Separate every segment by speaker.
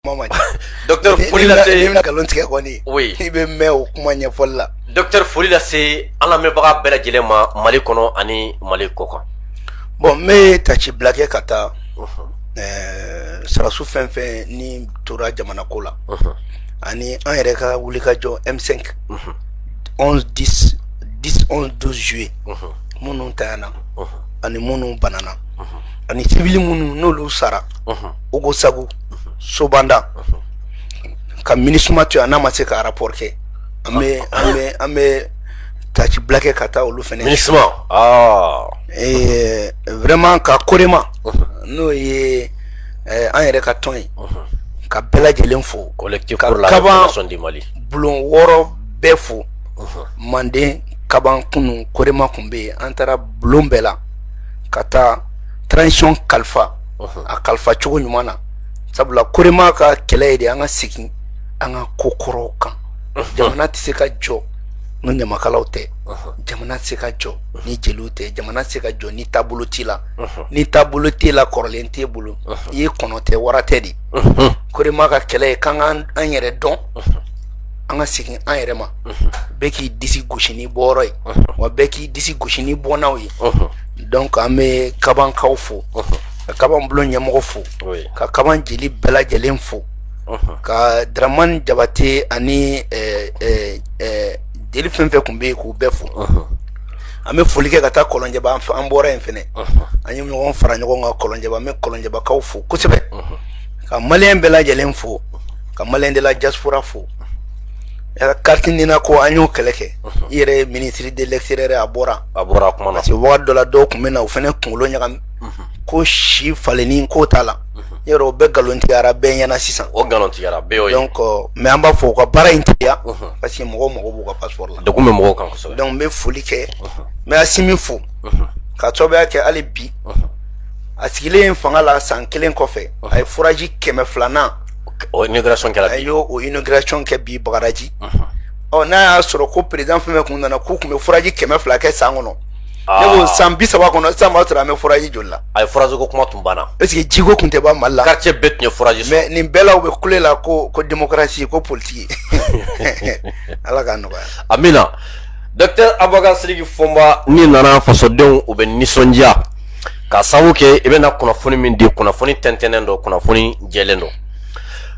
Speaker 1: kuma ma docteur foli lase na nkalon tigɛ
Speaker 2: kɔni oui i bɛ mɛn o kuma ɲɛfɔli
Speaker 1: la docteur foli lase an lamɛnbaga bɛɛ lajɛlen ma mali kɔnɔ ani mali kɔkan bon n bɛ
Speaker 2: taasibila kɛ ka taa ɛɛ sarasu fɛn fɛn ni tora jamana ko la ani an yɛrɛ ka wulikajɔ m5 11 10 10 11 12 juillet minnu tayana ani minnu banana ani civil minnu n'olu sara ogosagu sobanda ka minisuma to yen n'a ma se ka rapport kɛ an bɛ an bɛ an bɛ taasibila kɛ ka taa olu fɛnɛ minisuma
Speaker 1: ah. eh,
Speaker 2: vraiment ka korema n'o ye eh, an yɛrɛ ka tɔn ye ka bɛɛ lajɛlen fo ka
Speaker 1: kaban bulon
Speaker 2: wɔɔrɔ bɛɛ fo manden kaban kunun korema kun bɛ yen an taara bulon bɛɛ la ka taa transition kalifa a kalifa cogo ɲuman na sabula korema ka kɛlɛ ye de an ka segin an ka ko kɔrɔw kan jamana tɛ se ka jɔ ni ɲamakalaw tɛ jamana tɛ se ka jɔ ni jeliw tɛ jamana tɛ se ka jɔ ni taabolo t'i la ni taabolo t'i la kɔrɔlen t'e bolo i ye kɔnɔ tɛ wara tɛ de korema ka kɛlɛ ye k'an ka an yɛrɛ dɔn an ka segin an yɛrɛ ma bɛɛ k'i disi gosi n'i bɔyɔrɔ ye wa bɛɛ k'i disi gosi n'i bɔnnaw ye donc an bɛ kabankaw fo ka kaban bulon ɲɛmɔgɔ fo ka kaban jeli bɛɛ lajɛlen fo ka dramani jabate ani jeli fɛn fɛn kun bɛ yen k'u bɛɛ fo an bɛ foli kɛ ka taa kɔlɔnjɛba an bɔra yen fɛnɛ an ye ɲɔgɔn fara ɲɔgɔn kan kɔlɔnjɛba an bɛ kɔlɔnjɛbakaw fo kosɛbɛ ka maliyɛn bɛɛ lajɛlen fo ka maliyɛn de la diaspora fo Carte nina ko an y'o kɛlɛ kɛ i yɛrɛ ye ministre de l'extérieur a bɔra a bɔra kuma na parce que
Speaker 1: wagati dɔ la dɔw
Speaker 2: kun bɛ na u fɛnɛ kunkolo ɲagami ko si falenni ko t'a la yɔrɔ o bɛɛ nkalontigiyara bɛɛ ɲɛ na sisan o nkalontigiyara
Speaker 1: donc mais an b'a
Speaker 2: fɔ u ka baara in teliya parce que mɔgɔw mago b'u ka passeport la degun bɛ mɔgɔw kan
Speaker 1: donc n bɛ foli
Speaker 2: kɛ n bɛ asimi fo k'a sababuya kɛ hali bi a sigilen fanga la san kelen kɔfɛ a ye foraji kɛmɛ filanan O
Speaker 1: inauguration kɛra, a y'o
Speaker 2: inauguration kɛ bi Bagadaji, unhun, ɔ n'a y'a sɔrɔ ko président fɛn o fɛn tun nana k'u tun bɛ foraji kɛmɛ fila kɛ san kɔnɔ, aa, ne ko san bi saba kɔnɔ sisan b'a sɔrɔ an bɛ foraji joli la, ayi foraji ko kuma tun
Speaker 1: banna, est ce que jiko tun tɛ
Speaker 2: ban Mali la, quartier bɛɛ tun ye foraji
Speaker 1: sɔrɔ, mais nin bɛɛ la u bɛ
Speaker 2: kule la ko ko démocratie ko politique Ala k'a nɔgɔya, amina,
Speaker 1: docteur Aboubacar Sidiki Fɔnba n'i nana fasodenw u bɛ nisɔndiya k'a sababu kɛ i bɛna kunnafoni min di kunnafoni tɛntɛnnen don kunnafoni jɛlen don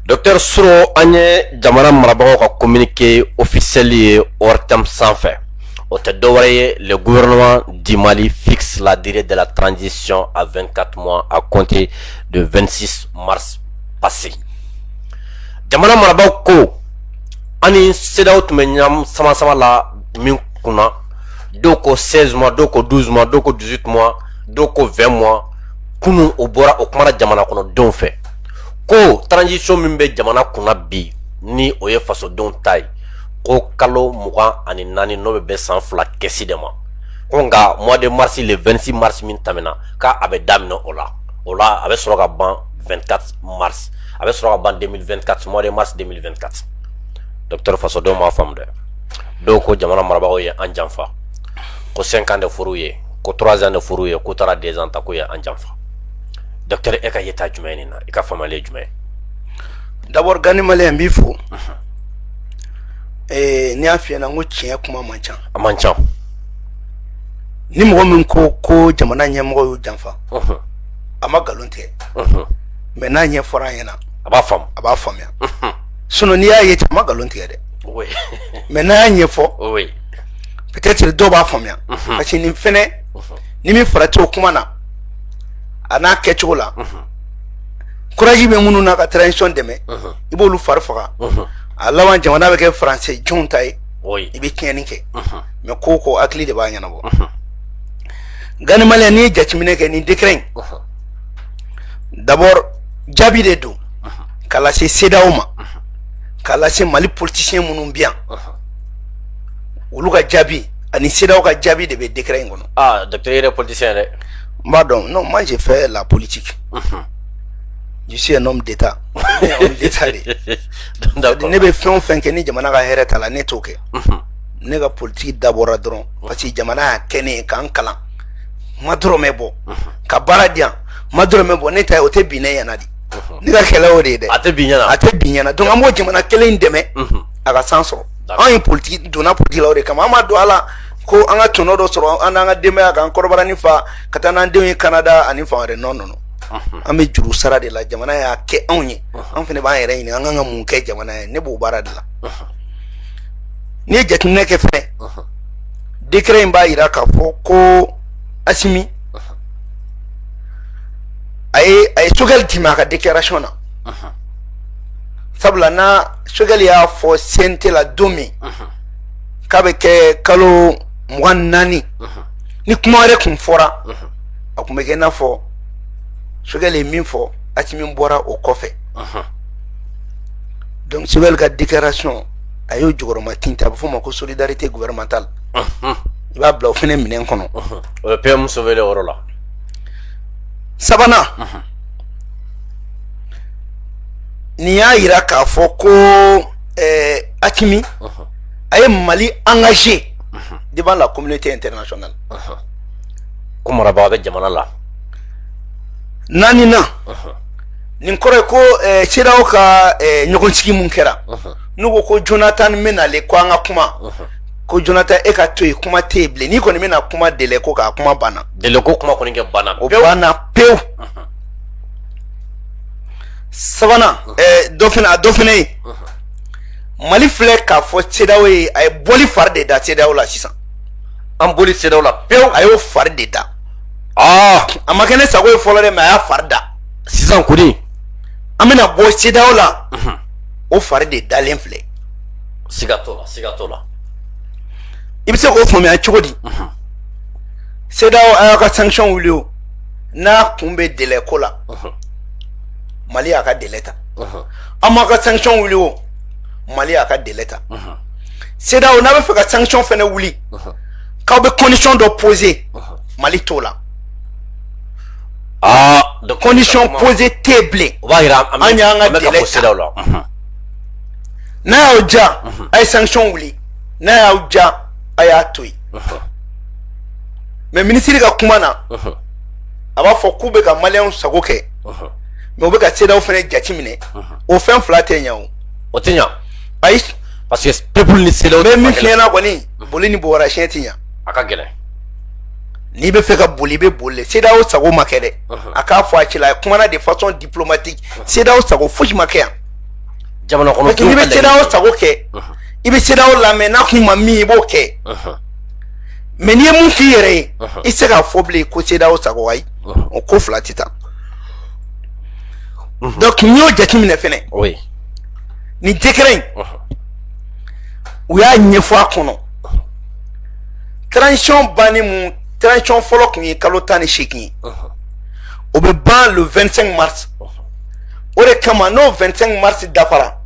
Speaker 1: Docteur Soro an ye jamana marabagaw ka communiqué officiel ye ORTM sanfɛ o tɛ dɔwɛrɛ ye le gouvernement du Mali fixe la durée de la transition à 24 mois à compter de 26 mars passé jamana marabagaw ko an ni CEDEAO tun bɛ ɲɔgɔn sama sama la min kunna dɔw ko 16 mois dɔw ko 12 mois dɔw ko 18 mois dɔw ko 20 mois kunun o bɔra o kumana jamana kɔnɔdenw fɛ ko transition min bɛ jamana kunna bi ni o ye fasodenw ta ye ko kalo mugan ani naani n'o bɛ bɛn san fila kɛsi de ma ko nka mois de mars le 26 mars min tɛmɛna k'a a bɛ daminɛ o la o la a bɛ sɔrɔ ka ban 24 mars a bɛ sɔrɔ ka ban 2024 mois de mars 2024 docteur fasodenw m'a faamu dɛ dɔw ko jamana marabagaw ye an janfa ko 5 ans de fɔr'u ye ko 3 ans de fɔr'u ye k'u taara 2 ans ta k'u ye an janfa docteur e ka yeta jumɛn nin na i ka faamulen jumɛn
Speaker 2: d'abord Gandhi Malien n b'i fo eh, n'i y'a f'i ɲɛna n ko tiɲɛ kuma man ca a man ca ni mɔgɔ min ko jamana ɲɛmɔgɔ y'u janfa a ma nkalon tigɛ mais n'a ɲɛfɔra an ɲɛna a b'a faamu a b'a
Speaker 1: faamuya
Speaker 2: sinon n'i y'a ye cɛ ma nkalon tigɛ dɛ mais n'a y'a ɲɛfɔ peut-être dɔw b'a faamuya mhm. parce que nin fɛnɛ mhm. ni min farati o kuma na a n'a kɛcogo la mhm. courage bɛ minnu na ka transition dɛmɛ i b'olu fari faga a laban jamana bɛ kɛ français jɔnw ta ye i bɛ tiɲɛni kɛ mais ko o ko hakili de b'a ɲɛnabɔ Gandhi Malien n'i ye jateminɛ kɛ nin décret in d'abord jaabi de don k'a lase CEDEAO ma k'a lase Mali politicien minnu bɛ yan olu ka jaabi ani CEDEAO ka jaabi de bɛ décret in kɔnɔ. aa docteur yɛrɛ politicien dɛ.
Speaker 1: n b'a dɔn non
Speaker 2: moi j'ai fait la politique. je suis un homme d'état homme d'état de ne bɛ fɛn o fɛn kɛ ni jamana ka hɛrɛ t'a la ne t'o kɛ. ne ka politiki dabɔra dɔrɔn parce que jamana y'a kɛ ne ye k'an kalan an ma dɔrɔmɛ bɔ ka baara di an ma dɔrɔmɛ bɔ ne ta ye o tɛ bin ne ɲɛna de ne ka kɛlɛ o de ye dɛ a tɛ bin ɲɛna a tɛ
Speaker 1: bin ɲɛna donc an
Speaker 2: b'o jamana kelen in dɛmɛ a ka san sɔrɔ anw ye politiki donna politiki la o de kama an ma don a la ko an ka tɔnɔ dɔ sɔrɔ an n'an ka denbaya k'an kɔnɔbara nin fa ka taa n'an denw ye Canada ani fan wɛrɛ non non an bɛ juru sara de la jamana y'a kɛ anw ye an fana b'an yɛrɛ ɲini an kan ka mun kɛ jamana ye ne b'o baara de la n'i ye jateminɛ kɛ fɛnɛ décret in b'a jira k'a fɔ ko Assimi a ye a ye Choguel d'i ma a ka déclaration na sabula na Choguel y'a fɔ CNT la don min k'a bɛ kɛ kalo mugan naani ni kuma wɛrɛ kun fɔra a kun bɛ kɛ i n'a fɔ Choguel ye min fɔ Assimi bɔra o kɔfɛ donc Choguel ka déclaration a y'o jukɔrɔmatintin a bɛ f'o ma ko solidarité gouvernementale i b'a bila o fɛnɛ minɛn kɔnɔ o ye PM
Speaker 1: Choguel yɔrɔ la.
Speaker 2: sabanan nin y'a yira k'a fɔ ko Assimi a ye Mali engager devant la communauté internationale
Speaker 1: ko marabaa bɛ jamana la
Speaker 2: naaninan nin kɔrɔ ye ko CEDEAO ka ɲɔgɔnsigi mun kɛra n'u ko ko Jonathan bɛ na le ko an ka kuma ko Jonathan e ka to yen kuma tɛ yen bilen n'i kɔni bɛna kuma délai ko kan kuma banna délai ko kuma kɔni
Speaker 1: kɛ banna o banna
Speaker 2: pewu sabanan dɔ fɛnɛ a dɔ fɛnɛ ye Mali filɛ k'a fɔ CEDEAO ye a ye bɔli fari de da CEDEAO la sisan an bɔli
Speaker 1: CEDEAO la pewu a y'o fari de
Speaker 2: da aa a ma kɛ ne sago ye fɔlɔ dɛ mais a y'a fari da sisan
Speaker 1: kɔni an
Speaker 2: bɛna bɔ CEDEAO la o fari de dalen filɛ siga t'o
Speaker 1: la siga t'o la
Speaker 2: i bɛ se k'o faamuya cogo di CEDEAO a y'a ka sanction wuli o n'a kun bɛ délai ko la Mali y'a ka délai ta a m'a ka sanction wuli o Mali y'a ka délai ta CEDEAO n'a bɛ fɛ ka sanction fɛnɛ wuli k'aw bɛ condition dɔ poser Mali t'o la
Speaker 1: aa condition
Speaker 2: poser tɛ bilen o b'a yira an y'an
Speaker 1: ka délai
Speaker 2: ta n'a y'aw diya a ye sanction wuli n'a y'aw diya a y'a to yen mais minisiri ka kuma na a b'a fɔ k'u bɛ ka maliyɛnw sago kɛ mais u bɛ ka CEDEAO fɛnɛ jateminɛ o fɛn fila tɛ ɲɛ o o tɛ ɲɛ
Speaker 1: ayi
Speaker 2: parce que
Speaker 1: peuple ni CEDEAO mais min fiɲɛna
Speaker 2: kɔni boli ni bobara siɲɛ tɛ ɲɛ a ka
Speaker 1: gɛlɛn
Speaker 2: n'i bɛ fɛ ka boli i bɛ boli le CEDEAO sago ma kɛ dɛ a k'a fɔ a cɛla a kumana de façon diplomatique CEDEAO sago fosi ma kɛ yan jamana
Speaker 1: kɔnɔ n'i bɛ CEDEAO sago
Speaker 2: kɛ i bɛ CEDEAO lamɛn n'a kun ma min i b'o kɛ mais n'i ye mun k'i yɛrɛ ye i tɛ se k'a fɔ bilen ko CEDEAO sago ayi o ko fila tɛ taa donc n'i y'o jateminɛ fɛnɛ ni décret in u y'a ɲɛfɔ a kɔnɔ transition banni mun transition fɔlɔ kun ye kalo tan ni seegin ye o bɛ ban le 25 mars o de kama n'o 25 mars dafara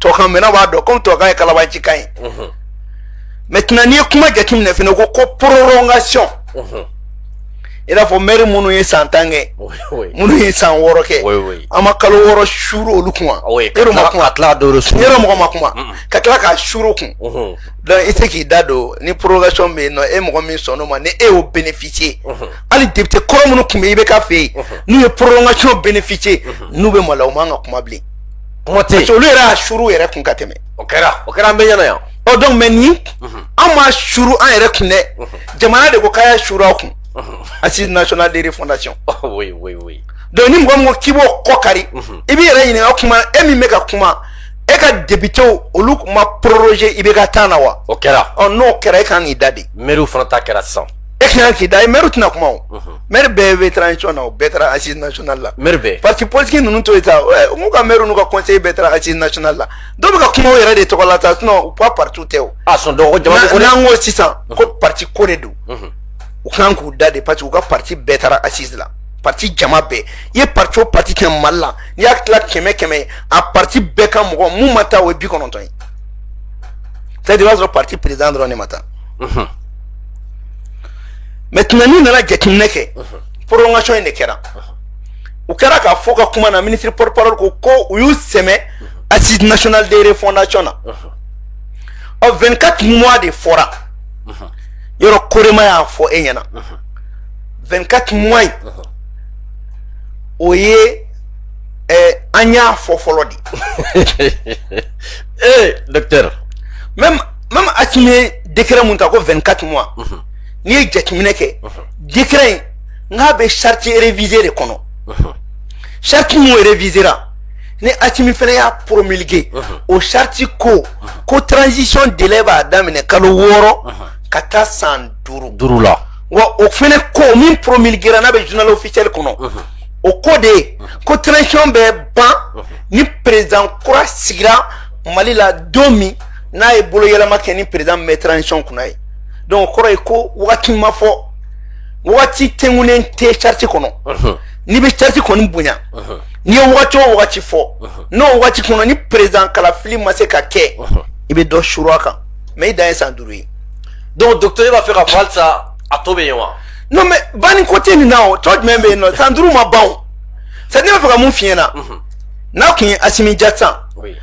Speaker 2: tɔkan mɛnna b'a dɔn komi tɔkan ye kalabancikan ye maintenant n'i ye kuma jateminɛ fana ko ko prolongation i n'a fɔ mɛri minnu ye san tan kɛ minnu ye san wɔɔrɔ kɛ an ma kalo wɔɔrɔ suru olu kun wa yɔrɔ ma kuma yɔrɔ mɔgɔ ma kuma ka tila k'a suru kun donc i tɛ k'i da don ni prolongation bɛ yen nɔ e mɔgɔ min sɔnn'o ma ni e y'o bénéficier hali député kɔrɔ minnu tun bɛ IBK fɛ yen n'u ye prolongation bénéficier n'u bɛ maloya u man ka kuma bilen. kuma tɛ yen olu yɛrɛ y'a suru yɛrɛ kun ka tɛmɛ o kɛra o kɛra an
Speaker 1: bɛɛ ɲɛna yan ɔ donc mais ni
Speaker 2: mhm. an ma suru an yɛrɛ kun dɛ mhm. jamana de ko k'a y'a suru a kun mhm. assise nationale de refondation oui oui oui donc ni mɔgɔ min ko k'i b'o kɔ kari i b'i yɛrɛ ɲininka kuma e min bɛ ka kuma e ka députéw olu ma proroger IBK temps na wa o kɛra ɔ n'o
Speaker 1: kɛra e kan k'i
Speaker 2: da de mɛriw fana ta kɛra sisan
Speaker 1: e kan k'i da
Speaker 2: de mɛri tɛna kuma o mɛri bɛɛ bɛ transition na o bɛɛ taara assise nationale la mɛri bɛɛ parti
Speaker 1: politique ninnu to
Speaker 2: yen sa n'u ka mɛriw n'u ka conseiller bɛɛ taara assise nationale la dɔw bɛ ka kuma u yɛrɛ de tɔgɔ la sa sinon u ka parti tɛ o a sɔn dɔgɔ jama ko n'an
Speaker 1: ko sisan ko
Speaker 2: parti ko de don u kan k'u da de parce que u ka parti bɛɛ taara assise la parti jama bɛɛ i ye parti o parti kɛ mali la n'i y'a tila kɛmɛ kɛmɛ ye a parti bɛɛ ka mɔgɔ mun ma taa o ye bi kɔnɔntɔn ye c'est à dire i b'a sɔrɔ parti président dɔrɔn de ma taa maintenant n'i nana jateminɛ kɛ prolongation in de kɛra u kɛra k'a fɔ ka kuma na ministre porte parole ko ko u y'u sɛmɛ assise nationale de refondation na ɔ 24 mois de fɔra yɔrɔ COREMA y'a fɔ e ɲɛna 24 mois in o ye an y'a fɔ fɔlɔ de docteur
Speaker 1: même
Speaker 2: même Asimi ye dekɛrɛ mun ta ko 24 mois n'i ye jateminɛ kɛ dekɛrɛ in n'a bɛ charte révisée de kɔnɔ charte mun révisera ni Asimi fana y'a promulguer o charte ko ko transition délai b'a daminɛ kalo wɔɔrɔ ka taa san duuru la wa
Speaker 1: o
Speaker 2: fana ko min promulguera n'a bɛ journal officiel kɔnɔ o ko de ye ko transition bɛ ban ni président kura sigira Mali la don min n'a ye bolo yɛlɛma kɛ ni président bɛ transition kunna ye donc o kɔrɔ ye ko wagati ma fɔ wagati tɛnkunnen tɛ charte kɔnɔ n'i bɛ charte kɔni bonya n'i ye wagati o wagati fɔ n'o wagati kɔnɔ ni président kalafili ma se ka kɛ i bɛ dɔ suru a kan mais i dan ye san duuru ye donc
Speaker 1: docteur b'a fɛ k'a fɔ halisa a tɔ bɛ yen wa non mais banni
Speaker 2: ko tɛ nin na o tɔ jumɛn bɛ yen nɔ san duuru ma ban o c'est à dire ne b'a fɛ ka mun f'i ɲɛna n'a tun ye asimi jata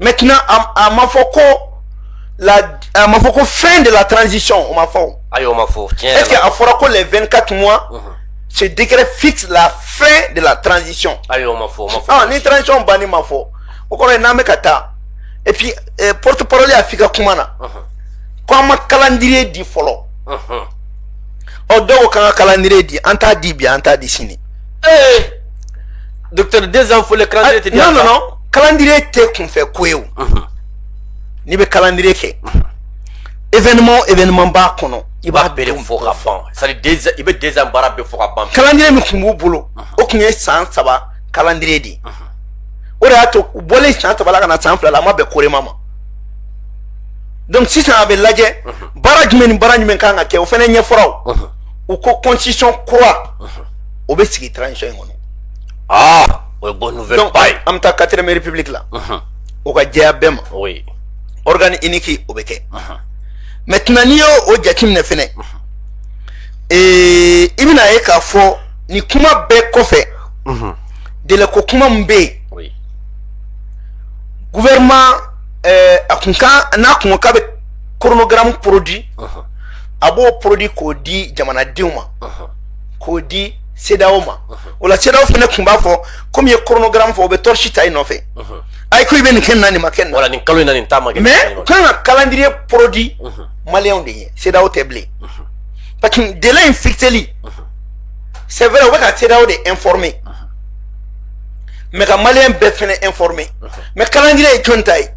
Speaker 2: maintenant a ma fɔ ko la a ma fɔ ko fin de la transition o ma fɔ ayi o ma fɔ tiɲɛ est
Speaker 1: ce que a fɔra ko
Speaker 2: les 24 mois ce décret fixe la fin de la transition ayi o ma fɔ o
Speaker 1: ma fɔ ah ni transition banni
Speaker 2: ma fɔ o kɔrɔ ye n'an bɛ ka taa et puis eh, porte parole y'a f'i ka kuma na ko an ma calendrier di fɔlɔ ɔ dɔw ko k'an ka calendrier di an t'a di bi an t'a di sini
Speaker 1: ee docteur deux ans fɔlen calendrier tɛ di non non non
Speaker 2: calendrier tɛ kunfɛ ko ye o n'i bɛ calendrier kɛ événement o événement b'a kɔnɔ i b'a bɛɛ de fɔ ka ban c'est à
Speaker 1: dire i bɛ deux ans baara bɛɛ fɔ ka ban calendrier min tun b'u
Speaker 2: bolo o tun ye san saba calendrier de ye o de y'a to u bɔlen san saba la ka na san fila la a ma bɛn corema ma donc sisan a bɛ lajɛ baara jumɛn ni baara jumɛn kan ka kɛ o fana ɲɛfɔra o u ko constitution kura o bɛ sigi transition in kɔnɔ aa o ye bonne
Speaker 1: nouvelle ba ye an bɛ taa quatrième république
Speaker 2: la o ka jɛya bɛɛ ma organe unique o bɛ kɛ maintenant n'i y'o o jateminɛ fɛnɛ ee i bɛna ye k'a fɔ nin kuma bɛɛ kɔfɛ délai ko kuma min bɛ yen gouvernement a kun kan n'a kun ko k'a bɛ chronogramme produit a b'o produit k'o di jamanadenw ma k'o di cedeao ma o la cedeao fɛnɛ kun b'a fɔ komi i ye chronogramme fɔ o bɛ torche ta i nɔfɛ ayi ko i bɛ nin kɛ nin na nin ma kɛ nin na nin kalo in na nin ta ma kɛ
Speaker 1: mais k'an ka
Speaker 2: calendrier produit maliyɛnw de ye cedeao tɛ bilen parce que délai in fixeli c'est vrai u bɛ ka cedeao de informer mais ka maliyɛn bɛɛ fɛnɛ informer mais calendrier ye jɔn ta ye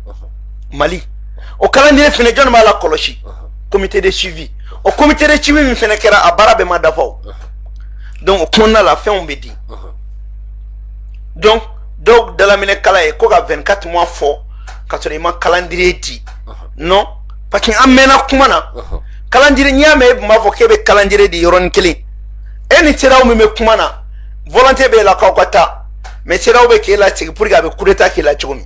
Speaker 2: mali o calendrier fɛnɛ jɔn b'a lakɔlɔsi comité de suivi o comité de suivi min fɛnɛ kɛra a baara bɛɛ ma dafa o donc o kɔnɔna la fɛnw bɛ di donc dɔw dalaminɛ kala ye ko ka 24 mois fɔ ka sɔrɔ i ma calendrier di non parce que an mɛnna kuma na calendrier n'i y'a mɛn e tun b'a fɔ k'e bɛ calendrier di yɔrɔnin kelen e ni cedeao min bɛ kuma na volonté b'e la k'aw ka taa mais cedeao bɛ k'e lasigi pour que a bɛ coup d'état k'i la cogo min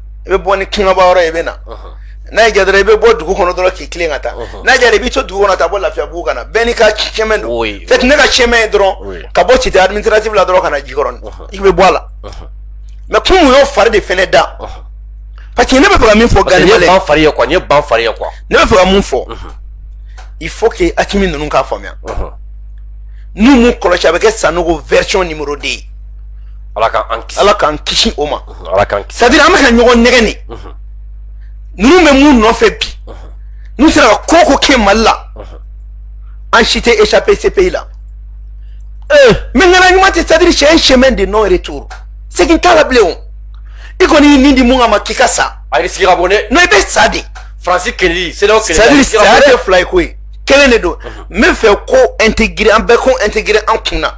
Speaker 2: i bɛ bɔ ni kangaba yɔrɔ i bɛ na n'a y'i diya i bɛ bɔ dugu kɔnɔ dɔrɔn k'i tilen ka taa n'a y'i diya i bɛ to dugu kɔnɔ ka bɔ lafiyabugu ka na bɛɛ n'i ka chemin don fɛn ne ka chemin ye dɔrɔn ka bɔ cité administrative la dɔrɔn ka na jikɔrɔni i bɛ bɔ a la mais comme y'o fari de fana da parce que ne bɛ fɛ ka min fɔ gari ne bɛna fariya
Speaker 1: quoi
Speaker 2: ne
Speaker 1: bɛna fariya quoi ne bɛ fɛ ka mun
Speaker 2: fɔ il faut que assimi ninnu k'a faamuya n'u m'u kɔlɔsi a bɛ kɛ sanogo version numéro 2 ye
Speaker 1: ala ala k'an kisi o
Speaker 2: ma ala kan c'est-à-dire
Speaker 1: an bɛ ka ɲɔgɔn
Speaker 2: nɛgɛn de ninnu bɛ mun nɔfɛ bi n'u sera ka ko o ko kɛ mali la an si tɛ échapper CPI la eh, mais ŋana ɲuman tɛ c'est-à-dire c'est un chemin de non retour segin t'a la bilen o i kɔni y'i ni di mun kama k'i ka sa ayi risque ka bon dɛ
Speaker 1: non i bɛ sa
Speaker 2: de faransi kɛlɛli
Speaker 1: CEDEAO kɛlɛli c'est-à-dire saya tɛ fila
Speaker 2: ye ko ye kelen de don n b'a fɛ k'o intégrer an bɛɛ k'o intégrer an kun na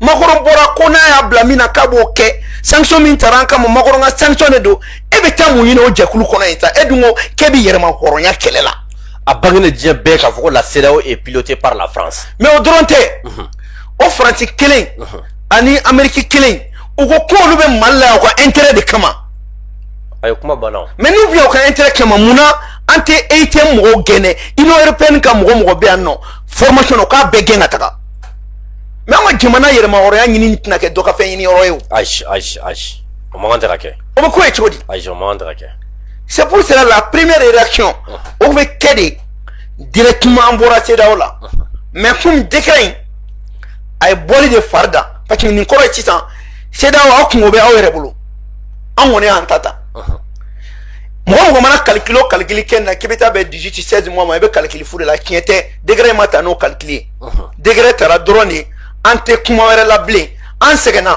Speaker 2: makɔrɔ bɔra ko n'a y'a bila min na k'a b'o kɛ sanction min tara an kama makɔrɔ ka sanction de don e bɛ taa mun ɲini o jɛkulu kɔnɔ yen sa e dun ko k'e bɛ yɛrɛma hɔrɔnya kɛlɛ la a bangena diɲɛ
Speaker 1: bɛɛ k'a fɔ ko la CEDEAO est pilotée par la France mais o dɔrɔn tɛ
Speaker 2: mhm. o faransi kelen mhm. ani ameriki kelen u ko k'olu bɛ mali la yan u ka intérêt de kama a
Speaker 1: ye kuma banna mais n'u bɛ yan u ka intérêt
Speaker 2: kama mun na an tɛ EUTM mɔgɔw gɛn ɛ union européenne ka mɔgɔ o mɔgɔ bɛ yan nɔ formation na u k'a bɛɛ gɛn ka taga mais an ka jamana yɛrɛma hɔrɔnya ɲini tɛna kɛ dɔ ka fɛn ɲini yɔrɔ ye o ayi ayi
Speaker 1: ayi o man kan tɛ ka kɛ o bɛ ko ye cogo di
Speaker 2: ayi o man kan tɛ ka
Speaker 1: kɛ c'est pour cela
Speaker 2: la première réaction o bɛ kɛ de directement an bɔra CEDEAO la mais komi décret in a ye bɔli de fari da parce que nin kɔrɔ ye sisan CEDEAO aw kunko bɛ aw yɛrɛ bolo an kɔni y'an ta ta mɔgɔ o mɔgɔ mana kalikili o kalikili kɛ na k'i bɛ taa bɛn 18 16 mois ma i bɛ kalikili fu de la tiɲɛ tɛ décret in ma ta n'o kalikili ye décret tara dɔrɔn de an tɛ kuma wɛrɛ la bilen an sɛgɛnna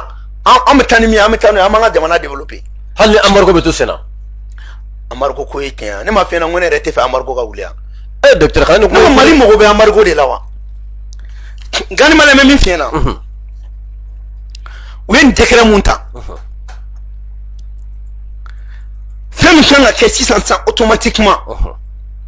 Speaker 2: an bɛ taa ni min an bɛ taa n'o ye an b'an ka jamana développer hali ni embargo bɛ to
Speaker 1: sen na embargo
Speaker 2: ko ye tiɲɛ ye ne ma fɛn na ko ne yɛrɛ t'a fɛ embargo ka wuli yan ee docteur kane
Speaker 1: ko mali mago bɛ embargo
Speaker 2: de la wa gani malɛ bɛ min fiɲɛ na u ye nin décret min ta fɛn min kan ka kɛ sisan sisan automatiquement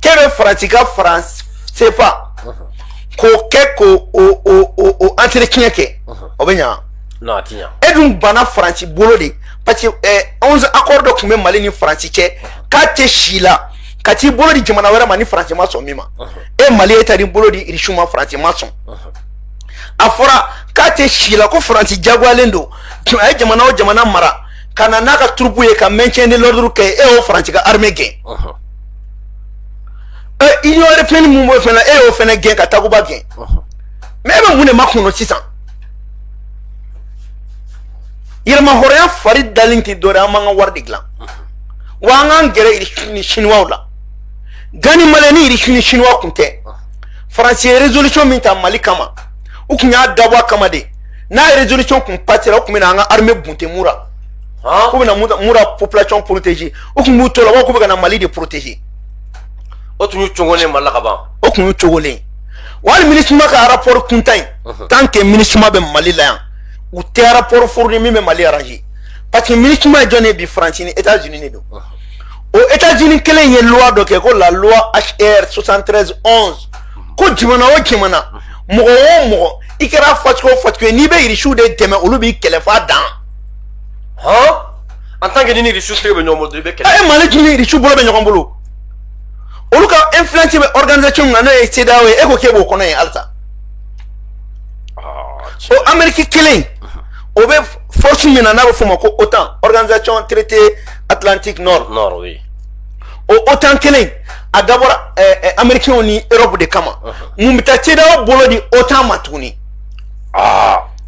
Speaker 2: k'e bɛ faransi ka franc CFA k'o kɛ k'o o o o o entretien kɛ o bɛ ɲa non a ti ɲa e
Speaker 1: dun banna faransi
Speaker 2: bolo de parce que eh, onze accord dɔ tun bɛ mali ni faransi cɛ k'a tɛ si la ka t'i bolo di jamana wɛrɛ ma ni faransi ma sɔn min ma e mali e taa n'i bolo di irisiw ma faransi ma sɔn a fɔra k'a tɛ si la ko faransi jagoyalen don a ye jamana o jamana mara ka na n'a ka troupes ye ka maintien de l'ordre kɛ e y'o faransi ka armée gɛn ɛ union européenne min b'o fɛnɛ e y'o fɛnɛ gɛn ka takuba gɛn mais e bɛ mun de makɔnɔ sisan yɛrɛma hɔrɔnya fari dalen tɛ dɔwɛrɛ an b'an ka wari de dilan wa an k'an gɛrɛ irisi ni siniwaw la gani malɛ ni irisi ni siniwa kun tɛ faransi ye résolution min ta mali kama u kun y'a dabɔ an kama de n'a ye résolution kun patira o tun bɛ na an ka armée bunte mura k'u bɛna mura population protéger u tun b'u to la k'u bɛ ka na mali de protéger o
Speaker 1: tun y'u cogolen mali la ka ban o tun y'u cogolen
Speaker 2: wali minisuma ka rapport kuntan in tant que minisuma bɛ mali la yan u tɛ rapport fourni min bɛ mali arranger parce que minisuma ye jɔn ye bi faransi ni états unis de don o états unis kelen ye loi dɔ kɛ ko la loi hr 73 11 ko jamana o jamana mɔgɔ o mɔgɔ i kɛra fɛn o fɛn ye n'i bɛ irisiw de dɛmɛ olu b'i kɛlɛ f'a dan
Speaker 1: hɔn en tant que n'i ni irisiw de bɛ ɲɔgɔn bolo i bɛ kɛlɛ. e mali dun ni irisiw bolo
Speaker 2: bɛ ɲɔgɔn bolo olu ka influence bɛ organisation min na n'o ye CEDEAO ye e ko k'e b'o kɔnɔ yen halisa o amérique kelen o bɛ force min na n'a bɛ f'o ma ko OTAN organisation traité atlantique nord. nord oui. o otan kelen a dabɔra amerikɛnw ni europe de kama mun bɛ taa CEDEAO bolo di otan ma
Speaker 1: tuguni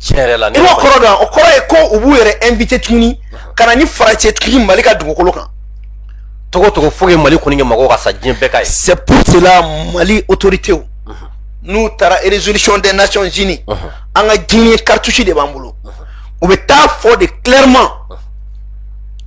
Speaker 1: tiɲɛ yɛrɛ la i b'o kɔrɔ dɔn o kɔrɔ ye
Speaker 2: ko u b'u yɛrɛ invité tuguni ka na ni faransi ye tuguni mali ka dugukolo kan
Speaker 1: togo
Speaker 2: togo fo
Speaker 1: ye mali kɔni kɛ
Speaker 2: mɔgɔw ka
Speaker 1: sa diɲɛ bɛɛ k'a ye
Speaker 2: c'est
Speaker 1: pour
Speaker 2: cela
Speaker 1: mali autoritéw mhm.
Speaker 2: n'u taara résolution des nations unies mhm. an ka dernier cartouche de b'an bolo mhm. u bɛ taa fɔ de clairement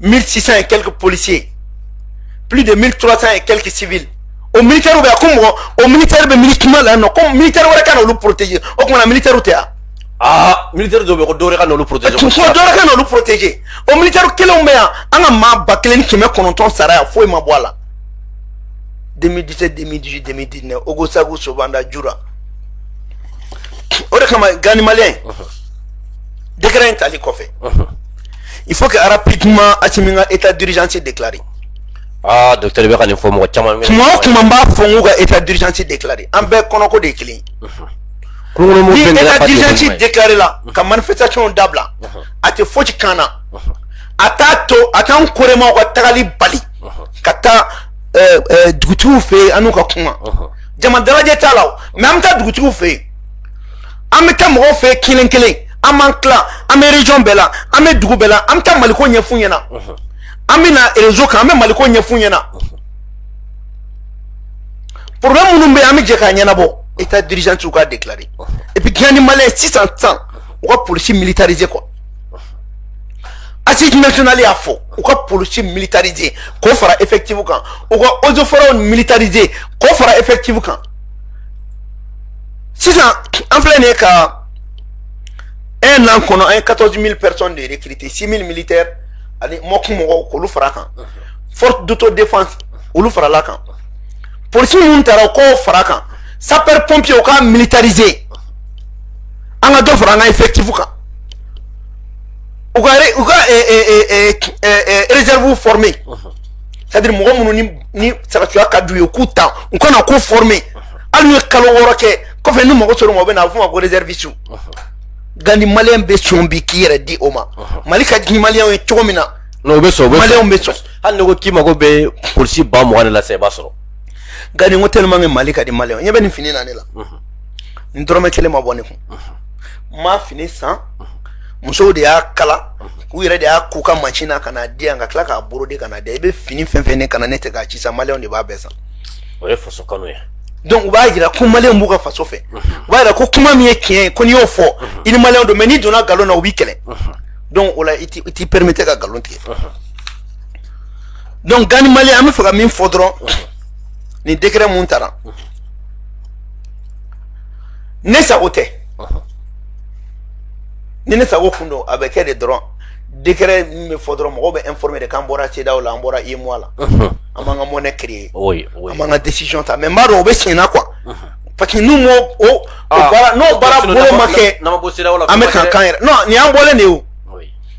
Speaker 2: 1600 et quelques policiers plus de 1300 et quelques civils o militaire bɛ yan ko mɔgɔ o militaire bɛ minisuma la yan nɔ ko militaire wɛrɛ ka n'olu protéger o tuma na militairew tɛ yan. aa militaire
Speaker 1: dɔw bɛ yen ko dɔwɛrɛ ka n'olu protéger. ko dɔwɛrɛ ka
Speaker 2: n'olu protéger o militaire kelenw bɛ yan an ka maa ba kelen ni kɛmɛ kɔnɔntɔn sara yan foyi ma bɔ a la. 2017 2018 2019 ogosago sobanda jura o de kama gouvernement malien. décret in tali kɔfɛ il faut que rapidement Assimi ka état d'urgence déclaré
Speaker 1: ah docteur bɛ ka nin fɔ mɔgɔ caman tuma o tuma n b'a fɔ n
Speaker 2: k'u ka état d'urgence déclaré an bɛɛ kɔnɔko de ye kelen ni état d'urgence déclaré la ka manifestation dabila a tɛ fosi kan na a t'a to a t'an koremaw ka tagali bali ka taa dugutigiw fɛ yen an n'u ka kuma jama dalajɛ t'a la o même an bɛ taa dugutigiw fɛ yen an bɛ taa mɔgɔw fɛ yen kelen kelen an b'an tilan an bɛ region bɛɛ la an bɛ dugu bɛɛ la an bɛ taa maliko ɲɛf'u ɲɛna an bɛ na réseau kan an bɛ maliko ɲɛf'u ɲɛna problème minnu bɛ yen an bɛ jɛ k'a ɲɛnabɔ état d'urgence u k'a déclarer et puis gouvernement malien sisan sisan u ka polisi militariser quoi assise nationale y'a fɔ u ka polisi militariser k'o fara effectif kan u ka eaux et forêts militariser k'o fara effectif kan sisan an filɛ nin ye ka un an kɔnɔ an ye quatorze mille personnes de recruter six mille militaires ani mɔgɔ mɔgɔw k'olu fara kan force d'autodéfense olu farala kan polisi minnu taara u k'o fara kan sapeur pompier u k'a militariser an ka dɔ fara an ka effectif kan u ka u ka réserve former c'est mɔgɔ minnu ni ni sɔrɔdasiya ka d'u ye k'u ta u ka na k'u former hali n'u ye kalo wɔɔrɔ kɛ kɔfɛ ni mago ser'o ma o bɛ na a bɛ f'o ma ko réserviste Gandhi maliyɛn bɛ sɔn bi k'i yɛrɛ di o ma mali ka di maliyɛnw ye cogo min na n'o bɛ sɔn o bɛ sɔn
Speaker 1: maliyɛnw bɛ sɔn hali
Speaker 2: n'i ko k'i
Speaker 1: mago bɛ polisi ba mugan de la sisan i b'a sɔrɔ Gandhi n
Speaker 2: ko tellement que mali ka di maliyɛnw ye ɲɛ bɛ nin fini na ne la n dɔrɔmɛ kelen ma bɔ ne kun n ma fini san musow de y'a kala u yɛrɛ de y'a ko ka mansin na ka n'a di yan ka tila k'a broder ka n'a di yan i bɛ fini fɛn fɛn ne kan na ne tɛ k'a si san maliyɛnw de b'a bɛɛ san o ye faso kanu
Speaker 1: ye donc u b'a jira ko
Speaker 2: maliyɛnw b'u ka faso fɛ u b'a jira ko kuma min ye tiɲɛ ye ko n'i y'o fɔ i ni maliyɛnw don mais n'i donna nkalon na u b'i kɛlɛ donc o la i t'i permettre ka nkalon tigɛ donc Gandhi maliyɛn an bɛ fɛ ka min fɔ dɔrɔn nin décret min tara ne sago tɛ ni ne sago kun don a bɛ kɛ de dɔrɔn décret min bɛ fɔ dɔrɔn mɔgɔw bɛ informer de k'an bɔra CEDEAO la an bɔra UEMOA la an b'an ka monnaie créer an b'an ka
Speaker 1: décision ta
Speaker 2: mais n b'a dɔn o bɛ senna na quoi parce que n'u m'o o o ah, baara n'o baara bolo ma kɛ an
Speaker 1: bɛ k'an kan yɛrɛ non nin
Speaker 2: y'an bɔlen de ye o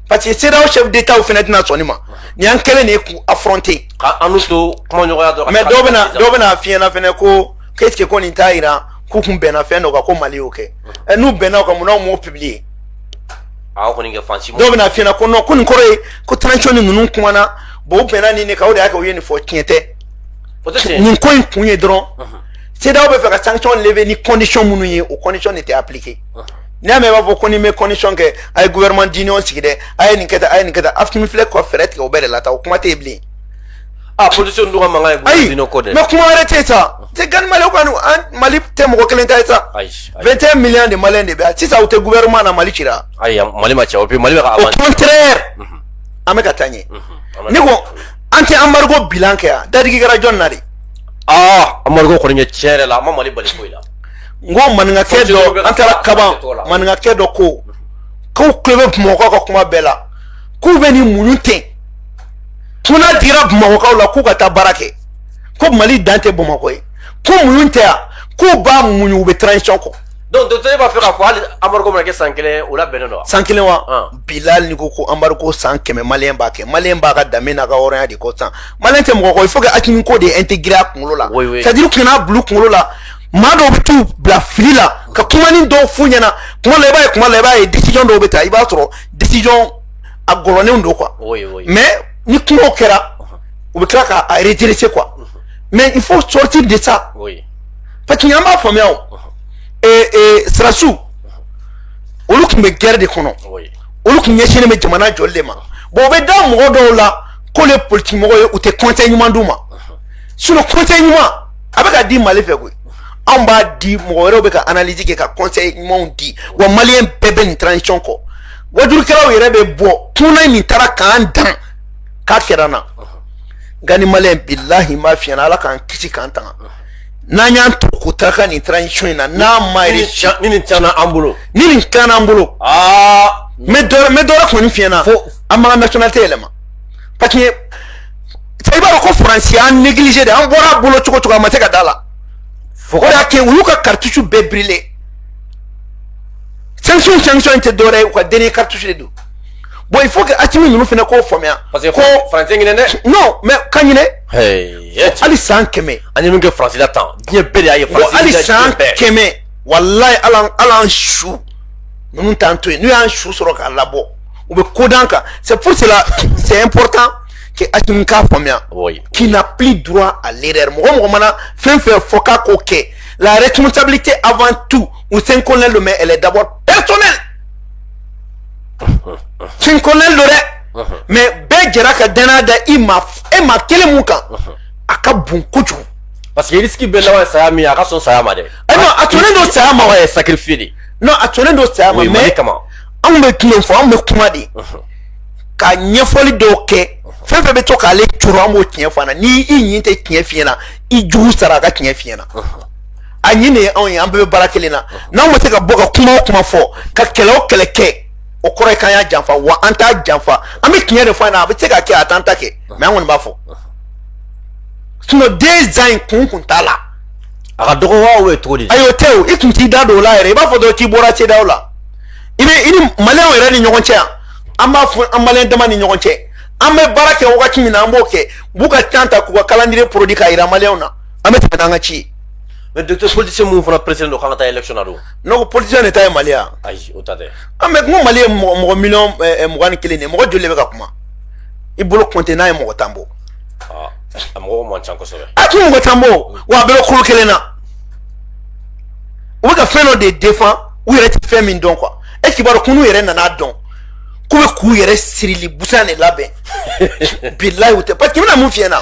Speaker 2: parce
Speaker 1: que
Speaker 2: CEDEAO chef d'État fana tɛna sɔn nin ma nin y'an kɛlen de ye k'u affronter k'an n'u tɛ
Speaker 1: kumaɲɔgɔnya dɔrɔn mais dɔw bɛna dɔw bɛna
Speaker 2: f'i ɲɛna fana ko k'e ko nin t'a jira k'u kun bɛnna fɛn dɔ kan ko Mali y'o kɛ ɛ n'u bɛnna o kan mun na u m'o publier
Speaker 1: aw kɔni kɛ fansi dɔw bɛna f'i ɲɛna ko non ko
Speaker 2: nin kɔrɔ ye ko transition ni ninnu kumana bon u bɛnna nin de kan o de y'a kɛ u ye nin fɔ tiɲɛ tɛ nin
Speaker 1: ko in kun ye
Speaker 2: dɔrɔn CEDEAO bɛ fɛ ka sanction lever ni condition minnu ye o condition de tɛ appliquer n'i y'a mɛn i b'a fɔ ko ni n bɛ condition kɛ a ye gouvernement d'union sigi dɛ a ye nin kɛ tan a ye nin kɛ tan Assimi filɛ ka fɛɛrɛ tigɛ o bɛɛ de la tan o kuma tɛ yen bilen opposition
Speaker 1: ninnu ka mankan ye ayi mais kuma wɛrɛ tɛ
Speaker 2: sa tɛ Gandhi mali kɔni an mali tɛ mɔgɔ kelen ta ye sa 21 millions de maliyɛn de bɛ yan sisan u tɛ gouvernement na mali cira ayi mali ma ci o bi
Speaker 1: mali bɛ ka au contraire
Speaker 2: an bɛ ka taa ɲɛ ne ko an tɛ embargo bilan kɛ yan dadigi kɛra jɔn na de
Speaker 1: aa embargo kɔni ye tiɲɛ yɛrɛ la a ma mali bali foyi la n ko
Speaker 2: maninkakɛ dɔ an taara kaban maninkakɛ dɔ ko k'u tulo bɛ bamakɔ ka kuma bɛɛ la k'u bɛ nin muɲu ten Tuna digira bamakɔkaw la k'u ka taa baara kɛ ko mali dan tɛ bamakɔ ye ko mun tɛ yan k'u b'a muɲu u bɛ transition kɔ donc docteur e b'a fɛ k'a
Speaker 1: fɔ hali embargo mana kɛ san kelen o la bɛnnen don san kelen wa
Speaker 2: bilahi ni ko ko embargo san kɛmɛ maliyɛn b'a kɛ maliyɛn b'a ka danbe n'a ka hɔrɔnya de kɔ san maliyɛn tɛ mɔgɔ kɔ il faut que Asimi k'o de intégrer a kunkolo la c'est à dire ka n'a bil'u kunkolo la maa dɔw bɛ t'u bila fili la ka kumanin dɔw f'u ɲɛna kuma la i b'a ye kuma la i b'a ye décision dɔw bɛ ta i b'a sɔrɔ décision a gɔlɔnnenw don quoi oui, oui. mais ni kumaw kɛra u bɛ tila ka a redresser quoi mais il faut sortir de ça oui. parce que an b'a faamuya o eh, eh, sɔrɔdasiw olu tun bɛ guerre de kɔnɔ oui. olu tun ɲɛsinnen bɛ jamana jɔli de ma bon u bɛ da mɔgɔ dɔw la k'olu ye politiki mɔgɔ ye u tɛ conseil ɲuman d'u ma sinon conseil ɲuman a bɛ ka di mali fɛ koyi anw b'a di mɔgɔ wɛrɛw bɛ ka analyse kɛ ka conseil ɲumanw di wa maliyɛn bɛɛ bɛ nin transition kɔ wajulikɛlaw yɛrɛ bɛ bɔ tunan min taara k'an dan k'a kɛra na nka ni maliyɛn bilahi n b'a f'i ɲɛna ala k'an kisi k'an tanga n'an y'an to ko ta ka nin transition in na n'a ma réussir ni nin tiɲɛna an bolo
Speaker 1: ni nin tiɲɛna an bolo
Speaker 2: aa n bɛ dɔ n bɛ dɔ wɛrɛ kɔni f'i ɲɛna an b'an ka nationalité yɛlɛma parce que i b'a dɔn ko faransi y'an négliger de an bɔra a bolo cogo cogo a ma se ka d'a la o de y'a kɛ u y'u ka cartouche bɛɛ brûler sanction sanction in tɛ dɔwɛrɛ ye u ka dernier cartouche de don bon il faut que Asimi ninnu fana k'o faamuya. parce que ko faransi
Speaker 1: ɲinɛ dɛ. non mais ka ɲinɛ.
Speaker 2: hali san kɛmɛ. an ye min kɛ faransi la tan
Speaker 1: diɲɛ bɛɛ de y'a ye. faransi hali san kɛmɛ
Speaker 2: walayi ala ala an su ninnu t'an to yen n'u y'an su sɔrɔ k'a labɔ u bɛ ko d'an kan c'est pour cela c'est important que Asimi k'a faamuya. qu'il n'a plus droit à l'erreur mɔgɔ mɔgɔ mana fɛn fɛn fɔ k'a k'o kɛ la responsabilité avant tout. ou cinq colonels don mais elle est d'abord personnelle cinq colonels don dɛ uh-huh. mais bɛɛ jɛra ka danaya da i ma e maa kelen min kan uh-huh. a ka bon kojugu parce que risque
Speaker 1: bɛ laban saya min a ka sɔn saya ma dɛ eh non a sɔnnen don
Speaker 2: saya ma wa sacrifice
Speaker 1: de non a sɔnnen don
Speaker 2: saya ma mais anw bɛ tiɲɛ fɔ anw bɛ kuma de ka ɲɛfɔli dɔw kɛ fɛn fɛn bɛ to k'ale jɔrɔ an b'o tiɲɛ f'a ɲɛna ni i ɲin tɛ tiɲɛ f'i ɲɛna i jugu sara a ka tiɲɛ f'i ɲɛna a ɲin de ye anw ye an bɛɛ bɛ baara kelen na n'anw ma se ka bɔ ka kuma o kuma fɔ ka kɛlɛ o kɛlɛ kɛ o kɔrɔ ye k'an y'a janfa wa an t'a janfa an bɛ tiɲɛ de fɔ a ɲɛna a bɛ se ka kɛ a t'an ta kɛ mais an kɔni b'a fɔ sinon deux ans in kun kun t'a la a ka dɔgɔ
Speaker 1: wa o ye cogo di ayi o tɛ o i tun
Speaker 2: t'i da don o la yɛrɛ i b'a fɔ dɔrɔn k'i bɔra CEDEAO la i bɛ i ni maliyɛnw yɛrɛ ni ɲɔgɔn cɛ yan an b'a fɔ an maliyɛn dama ni ɲɔgɔn cɛ an bɛ baara kɛ wagati min na an b'o kɛ u b'u ka temps ta k'u ka calendrier produit k'a jira maliyɛnw na an bɛ tɛmɛ n'an ka ci ye mais
Speaker 1: docteur politicien minnu fana pressélen don k'an ka taa élection na dun ne ko politicien de ta
Speaker 2: ye mali ye wa ayi o ta tɛ
Speaker 1: an bɛ n ko mali ye
Speaker 2: mɔgɔ mɔgɔ miliyɔn eh, eh, mugan ni kelen de ye mɔgɔ joli de bɛ ka kuma i bolo compter n'a ye mɔgɔ tan bɔ ah, a mɔgɔ
Speaker 1: man ca kosɛbɛ a tɛ mɔgɔ tan
Speaker 2: bɔ wa a bɛɛ bɛ kolo kelen na u bɛ ka fɛn dɔ de défendre u yɛrɛ tɛ fɛn min dɔn quoi est ce que i b'a dɔn ko n'u yɛrɛ nana dɔn k'u bɛ k'u yɛrɛ sirili busan de labɛn bilayi u tɛ parce que n bɛna mun f'i ɲɛna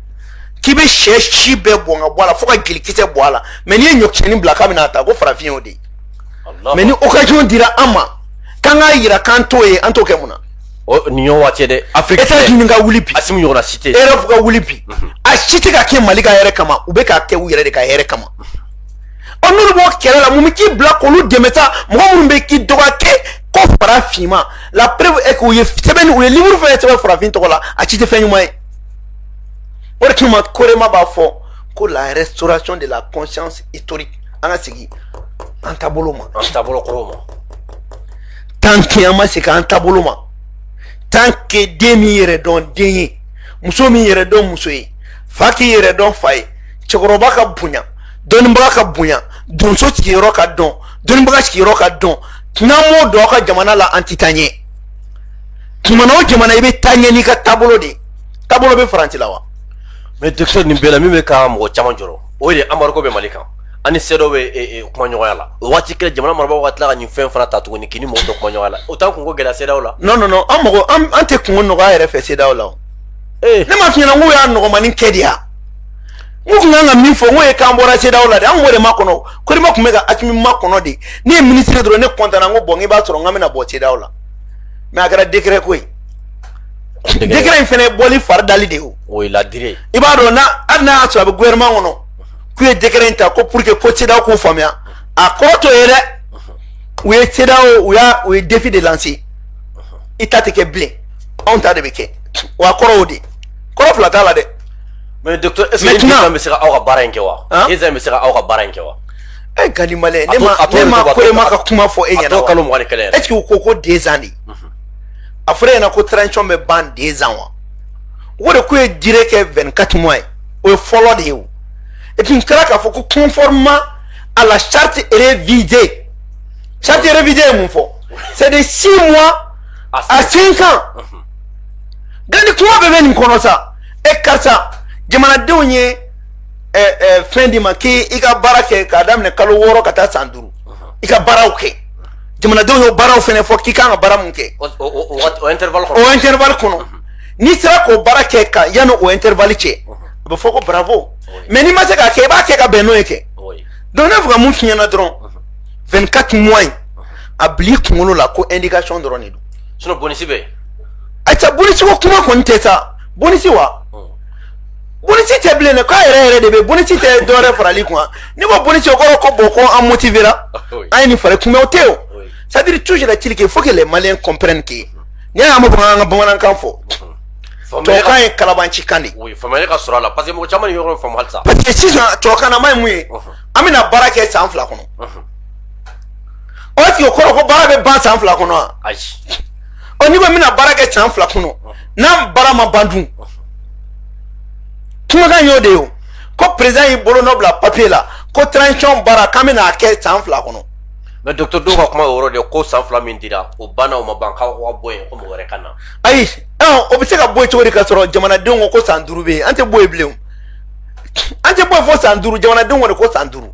Speaker 2: k'i bɛ sɛ si bɛɛ bɔn ka bɔ a la fo ka jelikisɛ bɔ a la mais n'i ye ɲɔkisɛnin bila k'a bɛna ta ko farafin y'o de ye mais ni occasion dira an ma k'an k'a yira k'an t'o ye an t'o kɛ mun na nin y'o waati
Speaker 1: dɛ afiriki États-Unis ka wuli bi asimi
Speaker 2: ɲɔgɔnna si tɛ erɔpu
Speaker 1: ka wuli bi
Speaker 2: mhm. a si tɛ ka kɛ mali ka hɛrɛ kama u bɛ k'a kɛ u yɛrɛ de ka hɛrɛ kama ɔ n'olu b'o kɛlɛ la mun bɛ k'i bila k'olu dɛmɛ sa mɔgɔ minnu bɛ k'i dɔgɔya kɛ ko fara finma la preuve est que u ye sɛbɛnni u ye livre fɛn sɛbɛn farafin tɔgɔ la a si tɛ fɛn ɲuman ye o de kama korema b'a fɔ ko la restauration de la conscience historique an ka segin an taabolo ma an taabolo kɔrɔw ma tant que an ma segin an taabolo ma tant que den m'i yɛrɛ dɔn den ye muso m'i yɛrɛ dɔn muso ye fa k'i yɛrɛ dɔn fa ye cɛkɔrɔba ka bonya dɔnnibaga ka bonya donso sigiyɔrɔ ka dɔn dɔnnibaga sigiyɔrɔ ka dɔn n'an m'o dɔn aw ka jamana la an tɛ taa ɲɛ jamana o jamana i bɛ taa ɲɛ n'i ka taabolo de ye taabolo bɛ faransi la wa mais docteur
Speaker 1: nin bɛɛ la min bɛ ka mɔgɔ caman jɔrɔ o de embargo bɛ mali kan ani CEDEAO bɛ kuma ɲɔgɔnya la o waati kelen jamana marabagaw ka tila ka nin fɛn fana ta tuguni k'i ni mɔgɔ dɔ kuma ɲɔgɔnya la o t'an kunko gɛlɛya CEDEAO la non non non an mɔgɔ
Speaker 2: an tɛ kunko nɔgɔya yɛrɛ fɛ CEDEAO la o ne m'a f'i ɲɛna k'u y'a nɔgɔmanin kɛ de ya u tun kan ka min fɔ n ko ye k'an bɔra CEDEAO la de an k'o de makɔnɔ korema tun bɛ ka asimi makɔnɔ de ne ye minisiri dɔrɔn ne kɔntana n ko bon i b'a sɔrɔ n ka bɛna bɔ CEDEAO la mais a kɛra décret ko ye décret in fana bɔli fari dali de o o ye la
Speaker 1: durée i b'a dɔn
Speaker 2: na hali n'a y'a sɔrɔ a bɛ gouvernement kɔnɔ k'u ye décret in ta ko pour que ko CEDEAO k'u faamuya a kɔrɔ t'o ye dɛ u ye CEDEAO u y'a u ye défi de lancer i ta tɛ kɛ bilen anw ta de bɛ kɛ wa a kɔrɔ o de kɔrɔ fila t'a la dɛ. mais
Speaker 1: docteur est ce que deux ans bɛ se ka aw ka baara in kɛ wa deux ans bɛ se ka aw ka baara in kɛ wa. ɛ Gani Maliyɛn
Speaker 2: ne ma ne ma korema ka kuma fɔ e ɲɛna wa a t'o kalo mugan ni kelen yɛrɛ est ce que u
Speaker 1: ko ko deux
Speaker 2: ans de. a fɔra yen na ko transition bɛ ban deux ans wa o de k'u ye durée kɛ 24 mois ye o ye fɔlɔ de ye o et puis n kɛra k'a fɔ ko conformément à la charte révisée charte révisée ye mun fɔ c'est de six mois à cinq ans mhm. gani kuma bɛɛ bɛ nin kɔnɔ sa e karisa jamanadenw ye fɛn d'i ma k'i i ka baara kɛ k'a daminɛ kalo wɔɔrɔ ka taa san duuru mhm. i ka baaraw kɛ jamanadenw y'o baaraw fɛnɛ fɔ k'i kan ka baara mun kɛ
Speaker 1: o intervalle
Speaker 2: kɔnɔ n'i sera k'o baara kɛ ka yanni o intervalle cɛ a bɛ fɔ ko bravo mais n'i ma se k'a kɛ i b'a kɛ ka bɛn n'o ye kɛ donc ne fɛ ka mun f'i ɲɛna dɔrɔn 24 mois in a bil'i kunkolo la ko indication dɔrɔn de don sinon bonisi bɛ yen
Speaker 1: ayiwa bonisi
Speaker 2: ko kuma kɔni tɛ sa bonisi wa bonisi tɛ bilen dɛ k'a yɛrɛ yɛrɛ de bɛ bonisi tɛ dɔwɛrɛ farali kun ni ko bonisi o kɔrɔ ko bon ko an motivera an ye nin fari kunbɛ o tɛ o c'est à dire toujours est-il qu'il faut que les maliens comprennent que n'i y'a mɛn an ka bamanankan fɔ tubabukan ye kalabanci kan de ye faamuyali ka sɔrɔ a la
Speaker 1: parce que mɔgɔ caman tɛ yɔrɔ faamu halisa parce que sisan
Speaker 2: tubabukan na ma ye mun ye an bɛna baara kɛ san fila kɔnɔ o est-ce que o kɔrɔ ko baara bɛ ban san fila kɔnɔ wa ayi
Speaker 1: ɔ n'i
Speaker 2: ko n bɛna baara kɛ san fila kɔnɔ n'a baara ma ban dun kumakan y'o de ye o ko président y'i bolo nɔ bila papiye la ko transition baara k'an bɛna a kɛ san fila kɔnɔ. mais docteur dɔw
Speaker 1: ka kuma o yɔrɔ de ko san fila min dira o banna o ma ban k'aw ka bɔ yen ko mɔgɔ wɛrɛ ka na.
Speaker 2: ayi o bɛ se ka bɔ yen cogo di ka sɔrɔ jamanadenw ko ko san duuru bɛ yen an tɛ bɔ yen bilen o an tɛ bɔ yen fo san duuru jamanadenw kɔni ko san duuru.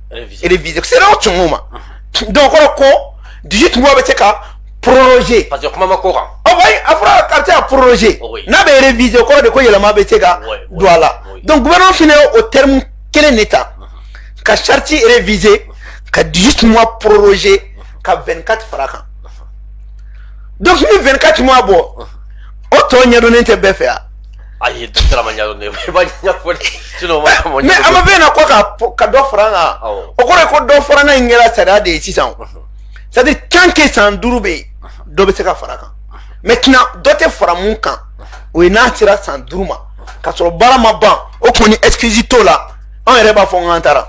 Speaker 2: reviser c'est à dire o tuma donc kɔrɔ ko 18 mois bɛ se ka proroger parce que kuma ma k'o kan
Speaker 1: ɔ wayi a fɔra k'a
Speaker 2: bɛ se ka proroger n'a bɛ reviser o kɔrɔ de ko yɛlɛma bɛ se ka don a la donc gouvernement fana ye o terme kelen de ta ka charte reviser ka 18 mois proroger ka 24 fara kan donc ni 24 mois bɔ o tɔ ɲɛdɔnnen tɛ bɛɛ fɛ yan ayi docteur
Speaker 1: ma ɲɛdɔn ne ye i b'a ɲɛfɔ de sinon o ma a ma mais a ma ɲɛdɔn fɛn
Speaker 2: na ko ka fɔ- ka dɔ fara n kan Awɔ. o kɔrɔ ye ko dɔ fara n'a in kɛra sariya de ye sisan o c'est à dire tant que san duuru bɛ yen dɔ bɛ se ka fara a kan maintenant dɔ tɛ fara mun kan o ye n'a sera san duuru ma k'a sɔrɔ baara ma ban o kɔni excuse t'o la an yɛrɛ b'a fɔ n k'an taara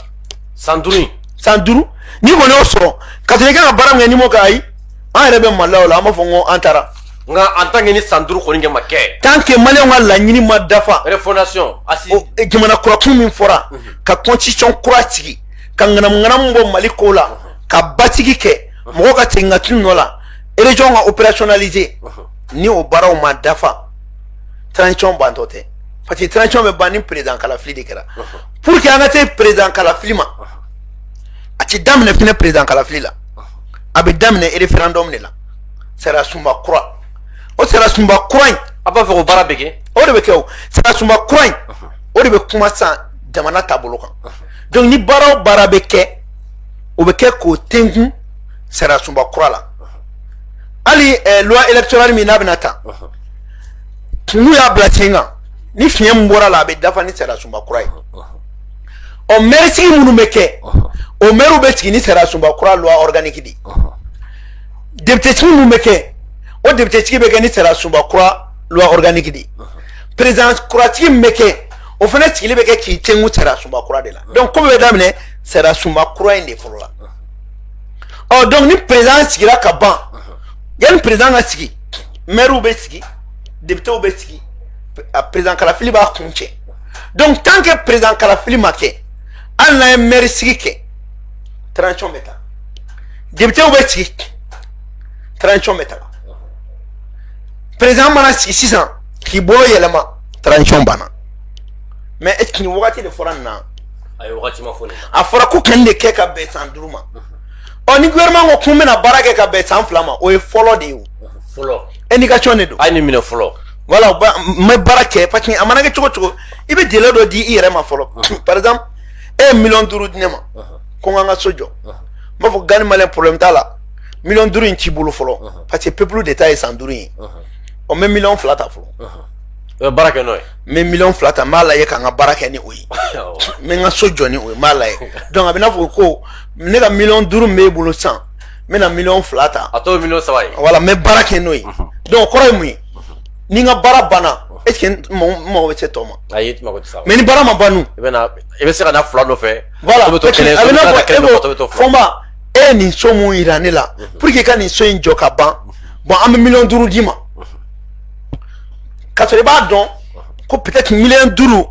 Speaker 2: san duuru in
Speaker 1: san duuru n'i
Speaker 2: kɔni y'o sɔrɔ ka sɔrɔ i kan ka baara min kɛ n'i m'o kɛ ayi an yɛrɛ bɛ maloya o la an b'a fɔ n ko an taara Nka en tant que
Speaker 1: ni san duuru kɔni ma kɛ tant que maliyɛnw
Speaker 2: ka laɲini ma
Speaker 1: dafa
Speaker 2: jamana kurakun min fɔra ka constitution kura sigi ka ŋanamuŋanamu bɔ mali ko la ka basigi kɛ mɔgɔw ka segin ka t'u nɔ la région ka opérationnaliser ni o baaraw ma dafa transition bantɔ tɛ parce que transition bɛ ban ni président kalafili de kɛra pour que an ka se président kalafili ma a tɛ daminɛ fɛnɛ président kalafili la a bɛ daminɛ référendum de la sariya sunba kura o sariya sunba kura in a b'a fɛ ko baara bɛ
Speaker 1: kɛ o de bɛ kɛ
Speaker 2: o sariya sunba kura in o de bɛ kuma san jamana taabolo kan donc ni baara o baara bɛ kɛ o bɛ kɛ k'o tenkun sariya sunba kura la hali eh, loi électorale min n'a bɛna ta n'u y'a bila sen kan ni fiɲɛ min bɔra la a bɛ dafa ni sariya sunba kura ye ɔ mɛri sigi minnu bɛ kɛ o mɛriw bɛ sigi ni sariya sunba kura loi organique de ye député sigi min bɛ kɛ o député sigi bɛ kɛ ni sariya sunba kura loi organique de ye président kura sigi min bɛ kɛ o fana sigili bɛ kɛ k'i tenkun sariya sunba kura de la donc ko bɛ daminɛ sariya sunba kura in de fɔlɔ la ɔ donc ni président sigira ka ban yanni président ka sigi maires bɛ sigi députés bɛ sigi a président kalafili b'a kun cɛ donc tant que président kalafili ma kɛ hali n'a ye maire sigi kɛ transition bɛ taa Depitew bɛ sigi transition bɛ taga président mana sigi sisan k'i bolo yɛlɛma transition banna mais est ce que nin wagati de fɔra nin na ayi wagati ma fɔ nin
Speaker 1: na a
Speaker 2: fɔra k'u
Speaker 1: ka
Speaker 2: nin de kɛ ka
Speaker 1: bɛn
Speaker 2: san duuru ma ɔ ni gouvernement ko k'u bɛna baara kɛ ka bɛn san fila ma o ye fɔlɔ de ye o
Speaker 1: fɔlɔ indication de don
Speaker 2: a ye nin minɛ
Speaker 1: fɔlɔ voilà u ba-
Speaker 2: n bɛ baara kɛ parce que a mana kɛ cogo cogo i bɛ délai dɔ di i yɛrɛ ma fɔlɔ par exemple e ye miliyɔn duuru di ne ma ko n ka n ka so jɔ n b'a fɔ Gandhi Malien problème t'a la miliyɔn duuru in t'i bolo fɔlɔ parce que peuple de ta ye san duuru ye ɔ n bɛ miliyɔn fila ta fɔlɔ i bɛ baara kɛ n'o ye n
Speaker 1: bɛ miliyɔn fila ta n b'a
Speaker 2: lajɛ ka n ka baara kɛ ni o ye n bɛ n ka so jɔ ni o ye n b'a lajɛ donc a bɛ n'a fɔ ko ne ka miliyɔn duuru min b'e bolo sisan n bɛna miliyɔn fila ta a tɔ ye miliyɔn saba ye
Speaker 1: voilà n bɛ baara kɛ n'o
Speaker 2: ye donc kɔrɔ ye mun ye ni n ka baara banna est ce que n mago bɛ se tɔ ma ayi i mago tɛ se a ma mais ni
Speaker 1: baara ma ban dun i bɛ
Speaker 2: na i bɛ se ka na
Speaker 1: fila nɔfɛ voilà o bɛ to kɛnɛ
Speaker 2: so n'a
Speaker 1: ka kɛnɛ dɔ
Speaker 2: bɛ to Fɔnba
Speaker 1: e
Speaker 2: ye nin so min yira ne la mhm. pour que i ka nin so in jɔ ka ban mhm. bon an bɛ miliyɔn duuru d'i ma mhm. ka sɔrɔ i b'a dɔn ko peut-être miliyɔn duuru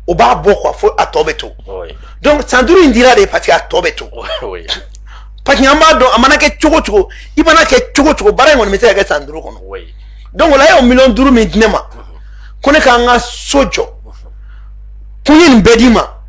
Speaker 2: o b'a bɔ quoi fo a tɔ bɛ to donc san duuru in dira de parce que a tɔ bɛ to parce que an b'a dɔn a mana kɛ cogo cogo i mana kɛ cogo cogo baara in kɔni bɛ se ka kɛ san duuru kɔnɔ donc o la e y'o miliyɔn duuru min di ne ma ko ne ka n ka so jɔ ko n ye nin bɛɛ d'i ma.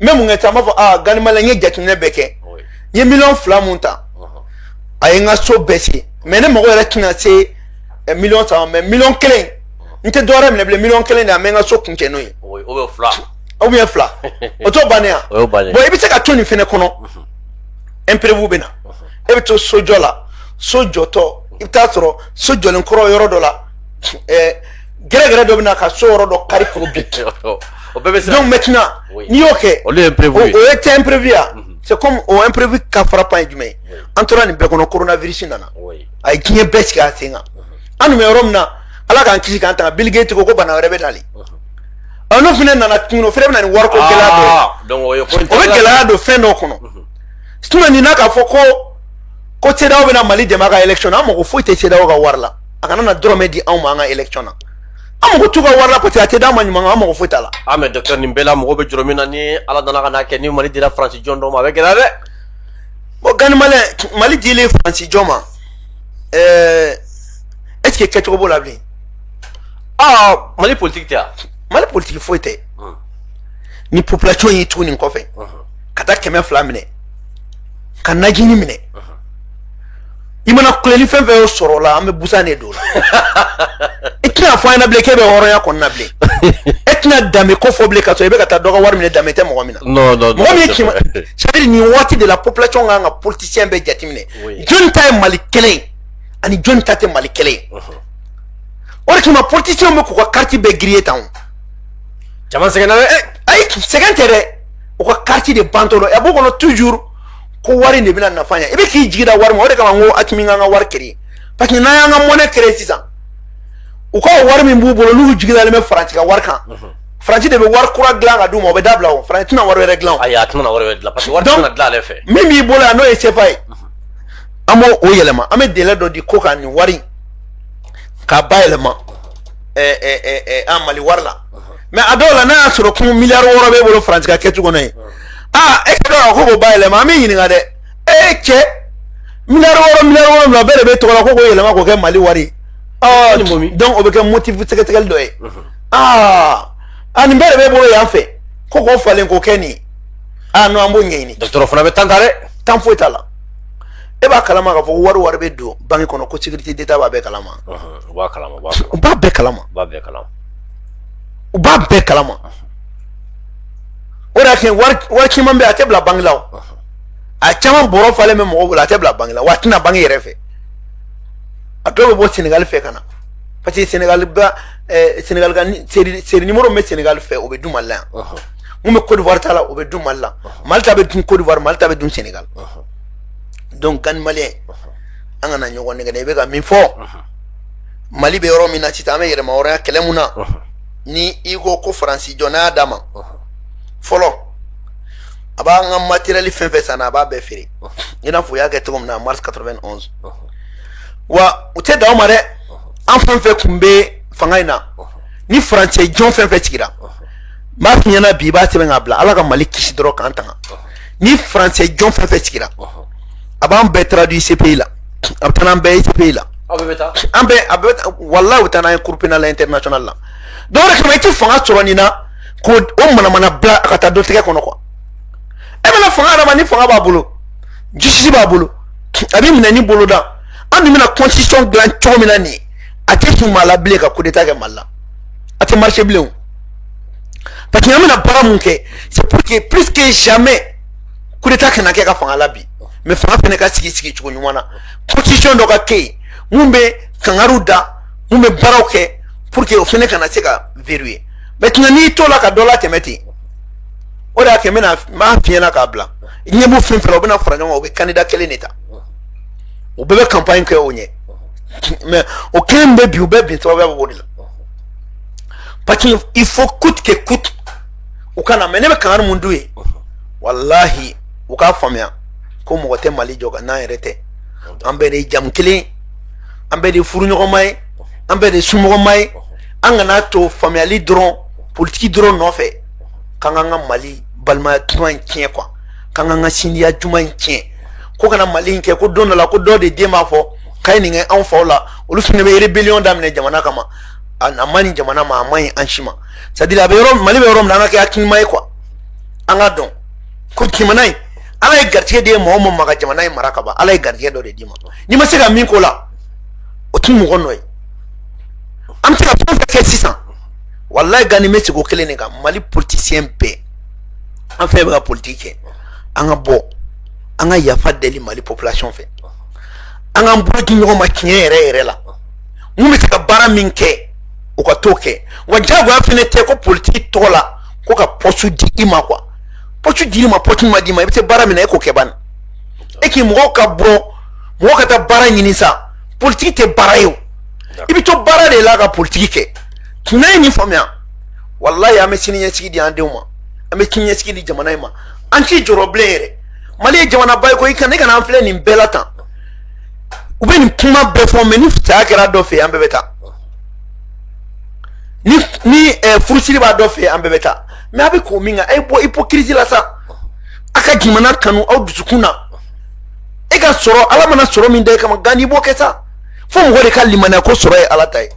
Speaker 2: n bɛ mun kɛ sisan n b'a fɔ aa Gandhi Malien n ye jateminɛ bɛɛ kɛ n ye miliyɔn fila min ta a ye n ka so bɛɛ se mais ne mago yɛrɛ tɛna se eh, miliyɔn saba ma miliyɔn kelen n tɛ dɔwɛrɛ minɛ bilen miliyɔn kelen de bɛ n ka so kun cɛ n'o ye ou bien fila o t'o bannen ye wa bon i bɛ se ka to nin fɛnɛ kɔnɔ imprévu bɛ na e bɛ to sojɔ la so jɔtɔ i bɛ taa sɔrɔ so jɔlen kɔrɔ yɔrɔ dɔ la ɛɛ gɛrɛgɛrɛ dɔ bɛ na ka so yɔrɔ dɔ kari k'o bin o bɛɛ bɛ se donc maintenant n'i y'o kɛ olu ye imprévu ye o ye tɛ imprévu ya mhm. c'est comme o imprévu ka frappant ye jumɛn ye an tora nin bɛɛ kɔnɔ coronavirus nana a ye diɲɛ bɛɛ sigi a sen kan mhm. an tun bɛ yɔrɔ min na ala k'an kisi k'an tanga Bill Gates ko ko bana wɛrɛ bɛ nali mhm. ɔ n'o fana nana tuguni o fana bɛ na ni wariko ah, gɛlɛya dɔ ye o bɛ gɛlɛya don fɛn dɔ kɔnɔ sinon n'i na k'a fɔ ko ko CEDEAO bɛna Mali dɛmɛ a ka élection na an mago foyi tɛ CEDEAO ka wari la a kana na dɔrɔmɛ di anw ma an ka élection na an mago t'u ka wari la parce que a tɛ d'an ma ɲuman an mago foyi t'a la ah mais docteur nin bɛɛ la
Speaker 1: mɔgɔ bɛ jɔrɔ min na ni ala nana ka n'a kɛ ni mali dira faransi jɔn dɔ ma a bɛ gɛlɛya dɛ bon
Speaker 2: Gani Malien mali dilen faransi jɔn ma ɛɛ est ce que kɛcogo b'o la bilen
Speaker 1: ah mali politiki tɛ yan mali politiki
Speaker 2: foyi tɛ ni population y'i tugu nin kɔfɛ ka taa kɛmɛ fila minɛ ka najini minɛ i mana kuleli fɛn fɛn y'o sɔrɔ la an bɛ busan de don o la i tɛna fɔ an ɲɛna bilen k'e bɛ hɔrɔnya kɔnɔna bilen e tɛna danbe ko fɔ bilen ka sɔrɔ i bɛ ka taa dɔ ka wari minɛ danbe tɛ mɔgɔ min na non non mɔgɔ min ye kɛmɛ c'est à dire nin waati de la population kan ka politicien bɛɛ jateminɛ jɔni ta ye mali kelen ye ani jɔni ta tɛ mali kelen ye o de kama politicien bɛ k'u ka carte bɛɛ griller tan o
Speaker 1: caman sɛgɛnna dɛ ayi sɛgɛn tɛ
Speaker 2: dɛ u ka carte de bantɔ don a b'u kɔnɔ toujours ko wari de bɛna nafa ɲɛ i bɛ k'i jigi da wari ma o de kama n ko Asimi k'an ka wari créer parce que n'an y'an ka monnaie créer sisan u ka wari min b'u bolo n'u jigi dalen bɛ faransi ka wari kan faransi de bɛ wari kura dilan ka d'u ma o bɛ dabila o faransi tɛna wari wɛrɛ dilan o ayi a tɛna wari wɛrɛ
Speaker 1: dilan
Speaker 2: parce
Speaker 1: que wari tɛna dilan ale fɛ min b'i bolo yan n'o
Speaker 2: ye CFA ye an b'o o yɛlɛma an bɛ délai dɔ di ko ka nin wari k'a bayɛlɛma ɛɛ ɛɛ ɛɛ an mali wari la mais a dɔw la n'a y'a sɔrɔ ko miliyari wɔɔrɔ b'e bolo faransi ka kɛcogo kɔnɔ ye aa e ka dɔn ko k'o bayɛlɛma an bɛ ɲininka dɛ e cɛ miliyari wɔɔrɔ miliyari wɔɔrɔ bɛɛ de b'e tɔgɔ la ko k'o yɛlɛma k'o kɛ mali wari ye donc o bɛ kɛ motif sɛgɛsɛgɛli dɔ ye aa a nin bɛɛ de b'e bolo yan fɛ ko k'o falen k'o kɛ nin ye aa non an b'o ɲɛɲini docteur o fana bɛ temps ta
Speaker 1: dɛ temps foyi t'a
Speaker 2: la e b'a kalama k'a fɔ ko wari wari bɛ don banque kɔnɔ ko sécurité d'état b'a bɛɛ kalama
Speaker 1: u b'a kalama
Speaker 2: u b'a bɛɛ kalama u b'a bɛɛ kalama o de y'a kɛ wari caman bɛ yen a tɛ bila banque la a caman bɔrɔ falen bɛ mɔgɔw bolo a tɛ bila banque la wa a tɛ na banque yɛrɛ fɛ a dɔw bɛ bɔ senegali fɛ ka na parce que senegali ba senegali ka série numéro bɛ senegali fɛ o bɛ dun mali la yan min bɛ kodiwari ta la o bɛ dun mali la mali ta bɛ dun kodiwari mali ta bɛ dun senegali donc Gani Malien an kana ɲɔgɔn nɛgɛn dɛ i bɛ ka min fɔ mali bɛ yɔrɔ min na sisan an bɛ yɛlɛma hɔrɔnya kɛlɛ mun na ni i ko ko faransi jɔn n'a y'a d'a ma fɔlɔ a b'an ka matériel fɛn fɛn san a b'a bɛɛ feere i n'a fɔ u y'a kɛ cogo min na mars 91 wa u tɛ dan o ma dɛ an fɛn fɛn kun bɛ fanga in na ni faransɛ jɔn fɛn fɛn sigira n b'a f'i ɲɛna bi i b'a sɛbɛn k'a bila ala ka mali kisi dɔrɔn k'an tanga ni faransɛ jɔn fɛn fɛn sigira a b'an bɛɛ traduit CPI la a bɛ taa n'an bɛɛ ye CPI la aw bɛɛ bɛ taa an bɛɛ a bɛɛ bɛ walayi u bɛ taa n'an ye cour pénale internationale la donc o de kama i tɛ fanga sɔrɔ nin na k'o o manamana bila a ka taa dɔ tigɛ kɔnɔ quoi e bɛna fanga yɛrɛ ma ni fanga b'a bolo justice b'a bolo a bɛ minɛ ni bolo da an dun bɛna constitution dilan cogo min na nin ye a tɛ kun maa la bilen ka coup d'état kɛ mali la a tɛ marché bilen o parce que an bɛna baara mun kɛ c'est pour que plus que jamais coup d'état kana kɛ ka fanga labin mais fanga fɛnɛ ka sigi sigi cogo ɲuman na constitution dɔ ka kɛ yen mun bɛ kangari da mun bɛ baaraw kɛ pour que o fɛnɛ kana se ka verrouiller maintenant n'i tola ka dɔ latɛmɛ ten o de y'a kɛ n bɛna n b'a f'i ɲɛna k'a bila i ɲɛ b'u fɛn fɛn la u bɛna fara ɲɔgɔn kan u bɛ candidat kelen de ta u bɛɛ bɛ campagne kɛ o ɲɛ mais o kelen bɛ bin u bɛɛ bin sababuya bɛ o de la parce que il faut coûte que coûte u ka na mais ne bɛ kangari mun d'u ye walahi u k'a faamuya ko mɔgɔ tɛ mali jɔ ka n'an yɛrɛ tɛ an bɛɛ de ye jamu kelen an bɛɛ de ye furuɲɔgɔnma ye an bɛɛ de ye somɔgɔma ye an kana to faamuyali dɔrɔn politiki dɔrɔn nɔfɛ k'an k'an ka mali balimaya duman in tiɲɛ quoi k'an k'an ka sinjiya duman in tiɲɛ ko kana mali in kɛ ko don dɔ la ko dɔ de den b'a fɔ k'a ye nin kɛ anw faw la olu fana bɛ rébellion daminɛ jamana kama a man ɲi jamana ma a man ɲi an si ma c'est à dire a bɛ yɔrɔ mali bɛ yɔrɔ min na an ka kɛ hakilima ye quoi an ka dɔn ko jamana in ala ye garijɛgɛ de di mɔgɔ o mɔgɔ ma ka jamana in mara ka ban ala ye garijɛgɛ dɔ de d'i ma n'i ma se ka min k'o la o tɛ mɔgɔ nɔ ye an bɛ se ka fɛn fɛn kɛ sisan walayi gani bɛ sigi o kelen de kan mali politisiyɛn bɛɛ an fɛn bɛ ka politiki kɛ an ka bɔ an ka yafa deli mali population fɛ an k'an bolo di ɲɔgɔn ma tiɲɛ yɛrɛ yɛrɛ la mun bɛ se ka baara min kɛ o ka t'o kɛ wa jagoya fɛnɛ tɛ ko politiki tɔgɔ la ko ka poste di i ma quoi poste dil'i ma poste ma d'i ma i bɛ se baara min na e k'o kɛ bani e k'i mɔgɔw ka bɔ mɔgɔ ka taa baara ɲini sa politiki tɛ baara ye o i bɛ to baara de la ka politiki kɛ n'an ye nin faamuya walayi an bɛ sini ɲɛsigi di an denw ma an bɛ sini ɲɛsigi di jamana in ma an t'i jɔrɔ bilen yɛrɛ mali ye jamanaba ye ko i kana i kana an filɛ nin bɛɛ la tan u bɛ nin kuma bɛɛ fɔ mais ni saya kɛra dɔ fɛ an bɛɛ bɛ taa ni ni eh, furusiri b'a dɔ fɛ an bɛɛ bɛ taa mais a bɛ ko min kan a ye bɔ hypocrisie la sa a ka jamana kanu aw dusukun na e ka sɔrɔ ala mana sɔrɔ min da e kama gani i b'o kɛ sa fo mɔgɔ de ka limaniya ko sɔrɔ ye ala ta ye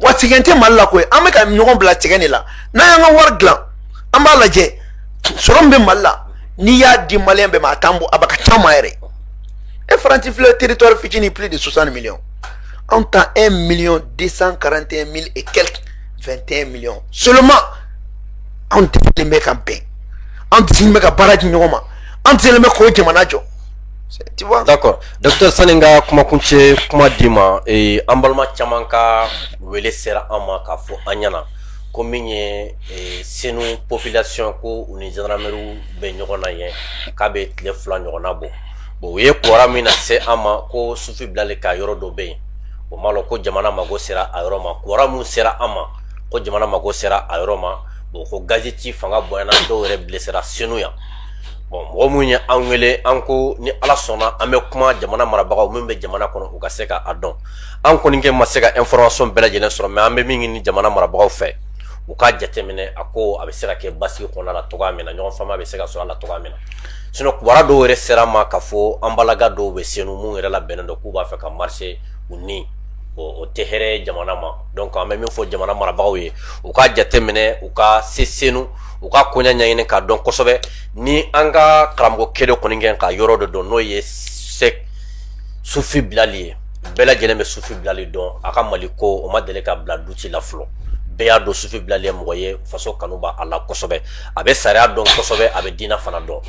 Speaker 2: wa sɛgɛn tɛ mali la koyi an bɛ ka ɲɔgɔn bila sɛgɛn de la n'an y'an ka wari dilan an b'a lajɛ sɔrɔ min bɛ mali la n'i y'a di maliyɛn bɛɛ ma a t'an bɔ a bɛ kɛ caman yɛrɛ e faransi filɛ territoire fitinin plus de 60 millions anw ta 1 million 241 mille et quelques 21 millions seulement anw desilen bɛ ka bɛn anw desilen bɛ ka baara di ɲɔgɔn ma anw desilen bɛ k'o jamana jɔ tu vois d'accord docteur
Speaker 1: sani n ka kumakuncɛ kuma d'i ma ee, an balima caman ka wele sera an ma k'a fɔ an ɲɛna ko min ye ee, senu population ko u ni gendarmerie bɛ ɲɔgɔn na yen k'a bɛ tile fila ɲɔgɔnna bɔ bon u ye kibaru min nase an ma ko sufi bilali ka yɔrɔ dɔ bɛ yen o m'a lɔn ko jamana mago sera a yɔrɔ ma kibaru min sera an ma ko jamana mago sera a yɔrɔ ma bon ko gazi ci fanga bonyana dɔw yɛrɛ bilesera senu yan bon mɔgɔ minnu ye an wele an ko ni ala sɔnna an bɛ kuma jamana marabagaw min bɛ jamana kɔnɔ u ka se ka a dɔn an kɔni kɛ ma se ka information bɛɛ lajɛlen sɔrɔ mais an bɛ min ɲini jamana marabagaw fɛ u ka jateminɛ a ko a bɛ se ka kɛ basigi kɔnɔna la cogo min na ɲɔgɔn faamu bɛ se ka sɔrɔ a la cogo min na sinon kibaru dɔw yɛrɛ sera an ma k'a fɔ an balima dɔw bɛ senu minnu yɛrɛ labɛnnen don k'u b'a fɛ ka marcher u ni o tɛ hɛrɛ jamana ma donc an bɛ min fɔ jamana marabagaw ye u ka jateminɛ u ka se senu u ka koɲa ɲɛɲini k'a dɔn kosɛbɛ ni an ka karamɔgɔ kelen kɔni kɛ ka yɔrɔ de don n'o ye sɛ sufi bilali ye bɛɛ lajɛlen bɛ sufi bilali dɔn a ka mali ko o ma deli ka bila doute la fɔlɔ bɛɛ y'a dɔn sufi bilali ye mɔgɔ ye faso kanu b'a la kosɛbɛ a bɛ sariya dɔn kosɛbɛ a bɛ diina fana dɔn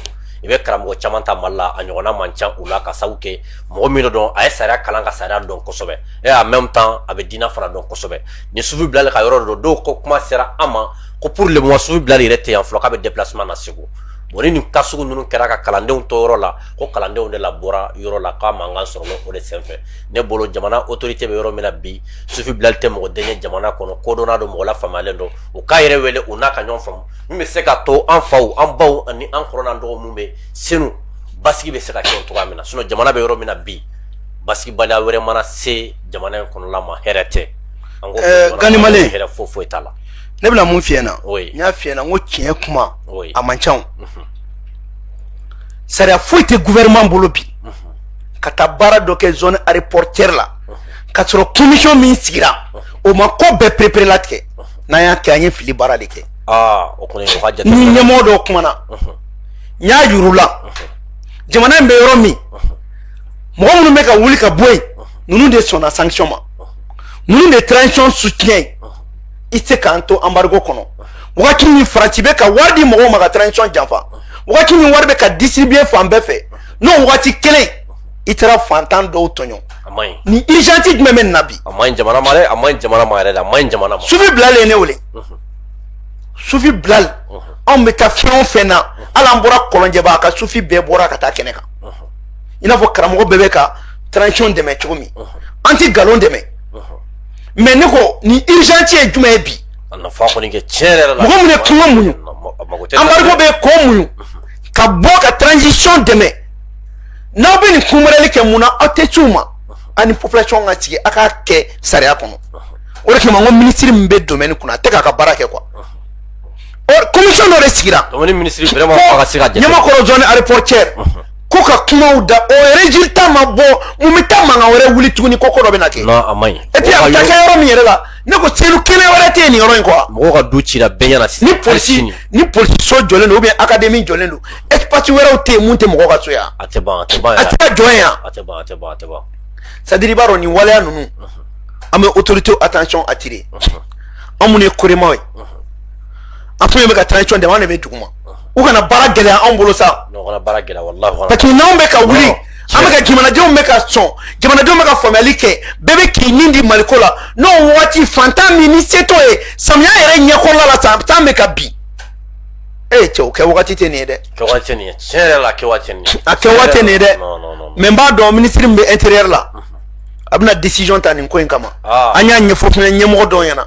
Speaker 1: i bɛ karamɔgɔ caman ta mali la a ɲɔgɔnna man ca u la ka sabu kɛ mɔgɔ min don a ye sariya kalan ka sariya dɔn kosɛbɛ et en même temps a bɛ diina fana dɔn kosɛbɛ ni sufi bilali ka yɔrɔ don dɔw ko kuma sera an ma ko pour le moment sufi bilali yɛrɛ tɛ yan fɔlɔ k'a bɛ déplacement na segu bon ni nin cas sugu ninnu kɛra ka kalandenw to yɔrɔ la ko kalandenw de labɔra yɔrɔ la k'a mankan sɔrɔ o de senfɛ ne bolo jamana autorité bɛ yɔrɔ min na bi sufi bilali tɛ mɔgɔ den ye jamana kɔnɔ kodɔnna don mɔgɔ lafaamuyalen don u k'a yɛrɛ wele u n'a ka ɲɔgɔn faamu min bɛ se ka to an faw an baw ani an kɔrɔ n'an dɔgɔw minnu bɛ senu basigi bɛ se ka kɛ o cogoya min na sinon jamana bɛ yɔrɔ min na bi basigibaliya wɛrɛ mana se jamana in kɔnɔla ma hɛrɛ tɛ an ko eh,
Speaker 2: gani mali hɛrɛ foyi foyi t'a la
Speaker 1: ne bɛna mun f'i ɲɛna
Speaker 2: n y'a f'i ɲɛna n ko tiɲɛ kuma a man ca
Speaker 1: mhm.
Speaker 2: sariya foyi tɛ gouvernement bolo bi ka taa baara dɔ kɛ zone aéroportière la k'a sɔrɔ commission min sigira o ma ko bɛɛ pereperelatigɛ n'an y'a kɛ an ye fili baara de kɛ
Speaker 1: ni ɲɛmɔgɔ dɔw
Speaker 2: kumana n y'a yir'u la jamana in bɛ yɔrɔ min mɔgɔ minnu bɛ ka wuli ka bɔ yen ninnu de sɔnna sanction ma ninnu de transition soutien i tɛ se k'an to embargo kɔnɔ wagati min faransi bɛ ka wari di mɔgɔw ma ka transition janfa wagati min wari bɛ ka distribuer fan bɛɛ fɛ n'o wagati kelen i taara fantan dɔw tɔɲɔ ni urgence jumɛn bɛ nin na bi a man ɲi jamana ma dɛ a
Speaker 1: man ɲi jamana ma yɛrɛ de a man ɲi jamana ma sufi bilali ye ne
Speaker 2: wele sufi bilali anw bɛ taa fɛn o fɛn na hali an bɔra kɔlɔnjɛba a ka sufi bɛɛ bɔra ka taa kɛnɛ kan i n'a fɔ karamɔgɔ bɛɛ bɛ ka transition dɛmɛ cogo min an tɛ nkalon dɛmɛ mais ne ko ni urgence ye jumɛn ye bi a nafa kɔni
Speaker 1: kɛ tiɲɛ yɛrɛ la mɔgɔ min ye kuma
Speaker 2: muɲu embargo bɛɛ k'o muɲu ka bɔ ka transition dɛmɛ n'aw bɛ nin kunbɛrɛli kɛ mun na aw tɛ ci u ma ani population ka sigi a k'a kɛ sariya kɔnɔ o de kama n ko minisiri min bɛ domaine kunna a tɛ k'a ka baara kɛ quoi commission dɔ de sigira
Speaker 1: ɲamakɔrɔ zone aéroportière
Speaker 2: ko ka kumaw da o résultat ma bɔ mun bɛ taa mankan wɛrɛ wuli tuguni ko ko dɔ bɛna kɛ. non a man ɲi. et puis a
Speaker 1: bɛ taa kɛ yɔrɔ min
Speaker 2: yɛrɛ la ne ko selu kelen wɛrɛ tɛ yen nin yɔrɔ in kɔ. mɔgɔw ka du cira bɛɛ ɲɛna
Speaker 1: sisan. ni polisi so
Speaker 2: jɔlen don ou bien académie jɔlen don espace wɛrɛw tɛ yen mun tɛ mɔgɔw ka so yan. a tɛ ban a tɛ ban yɛrɛ.
Speaker 1: a tɛ ka jɔ yan. a
Speaker 2: tɛ ban a tɛ ban a tɛ
Speaker 1: ban. c'est à dire i
Speaker 2: b'a dɔn nin waleya ninnu an bɛ autorité attention attirer an minnu ye koremaw ye an fɛn fɛn bɛ ka transition dɛmɛ an de bɛ duguma. u kana baara gɛlɛya anw bolo
Speaker 1: sa parce que n'anw bɛ ka
Speaker 2: wuli an bɛ ka jamanadenw bɛ ka sɔn jamanadenw bɛ ka faamuyali kɛ bɛɛ bɛ k'i nin di maliko la n'o waati fantan min ni se t'o ye samiya yɛrɛ ɲɛkɔrɔla la san bɛ ka bin ee cɛ o kɛ wagati tɛ nin ye dɛ kɛwagati tɛ nin ye
Speaker 1: tiɲɛ yɛrɛ la kɛwagati tɛ nin ye a kɛwagati tɛ nin ye
Speaker 2: dɛ mais n b'a
Speaker 1: dɔn minisiri min
Speaker 2: bɛ intérieur la a bɛna décision ta nin ko in kama an y'a ɲɛfɔ fana ɲɛmɔgɔ dɔw ɲɛna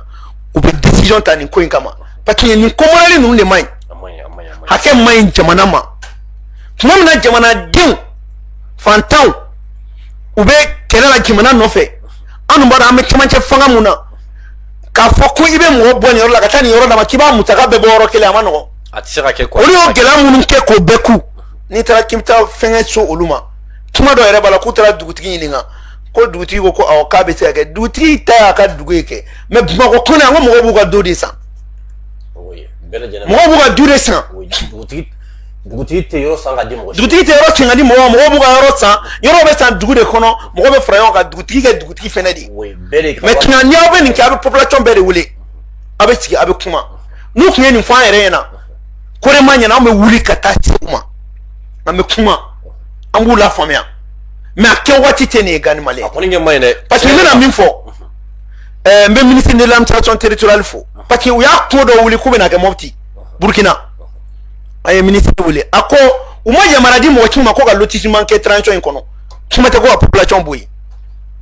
Speaker 2: u bɛ décision ta nin ko in kama parce que nin ko marali ninnu de man ɲi hakɛ man ɲi jamana ma tuma min na jamanadenw fantanw u bɛ kɛlɛ la jamana nɔfɛ an dun b'a dɔn an bɛ cɛmancɛ fanga mun na k'a fɔ ko i bɛ mɔgɔ bɔ nin yɔrɔ la ka taa nin yɔrɔ d'a ma k'i b'a musaka bɛɛ bɔ yɔrɔ kelen a ma nɔgɔn a tɛ se ka kɛ
Speaker 1: olu y'o gɛlɛya minnu kɛ
Speaker 2: k'o bɛɛ kun n'i taara k'i bɛ taa fɛnkɛ so olu ma tuma dɔ yɛrɛ b'a la k'u taara dugutigi ɲininka ko dugutigi ko ko awɔ k'a bɛ se ka kɛ dugutigi ta y'a ka dugu ye kɛ mais bamakɔ kɔnɔ yan ko mɔgɔw b'u ka du de san mɔgɔw b'u ka du de
Speaker 1: san dugutigi tɛ yɔrɔ san ka di mɔgɔ dugutigi tɛ yɔrɔ san ka di
Speaker 2: mɔgɔ ma mɔgɔw b'u ka yɔrɔ san yɔrɔ bɛ san dugu de kɔnɔ mɔgɔw bɛ fara ɲɔgɔn kan dugutigi kɛ dugutigi fɛnɛ de ye mais tuma ni aw bɛ nin kɛ a bɛ population bɛɛ de wele a bɛ sigi a bɛ kuma n'u tun ye nin fɔ an yɛrɛ ɲɛna ko de ma ɲɛna an bɛ wuli ka taa se u ma an bɛ kuma an b'u lafaamuya mais a kɛ waati tɛ nin ye gandhi malien a kɔni kɛ man ɲi dɛ
Speaker 1: parce que n bɛna min fɔ
Speaker 2: ɛɛ n bɛ ministre de l'administration territoriale fo parce que u y'a ko dɔ wuli k'u bɛna kɛ mɔpti burkina an ye ministre wele a ko u ma yamaruya di mɔgɔ si ma ko ka lotissement kɛ transition in kɔnɔ kuma tɛ ko ka population bɔ yen.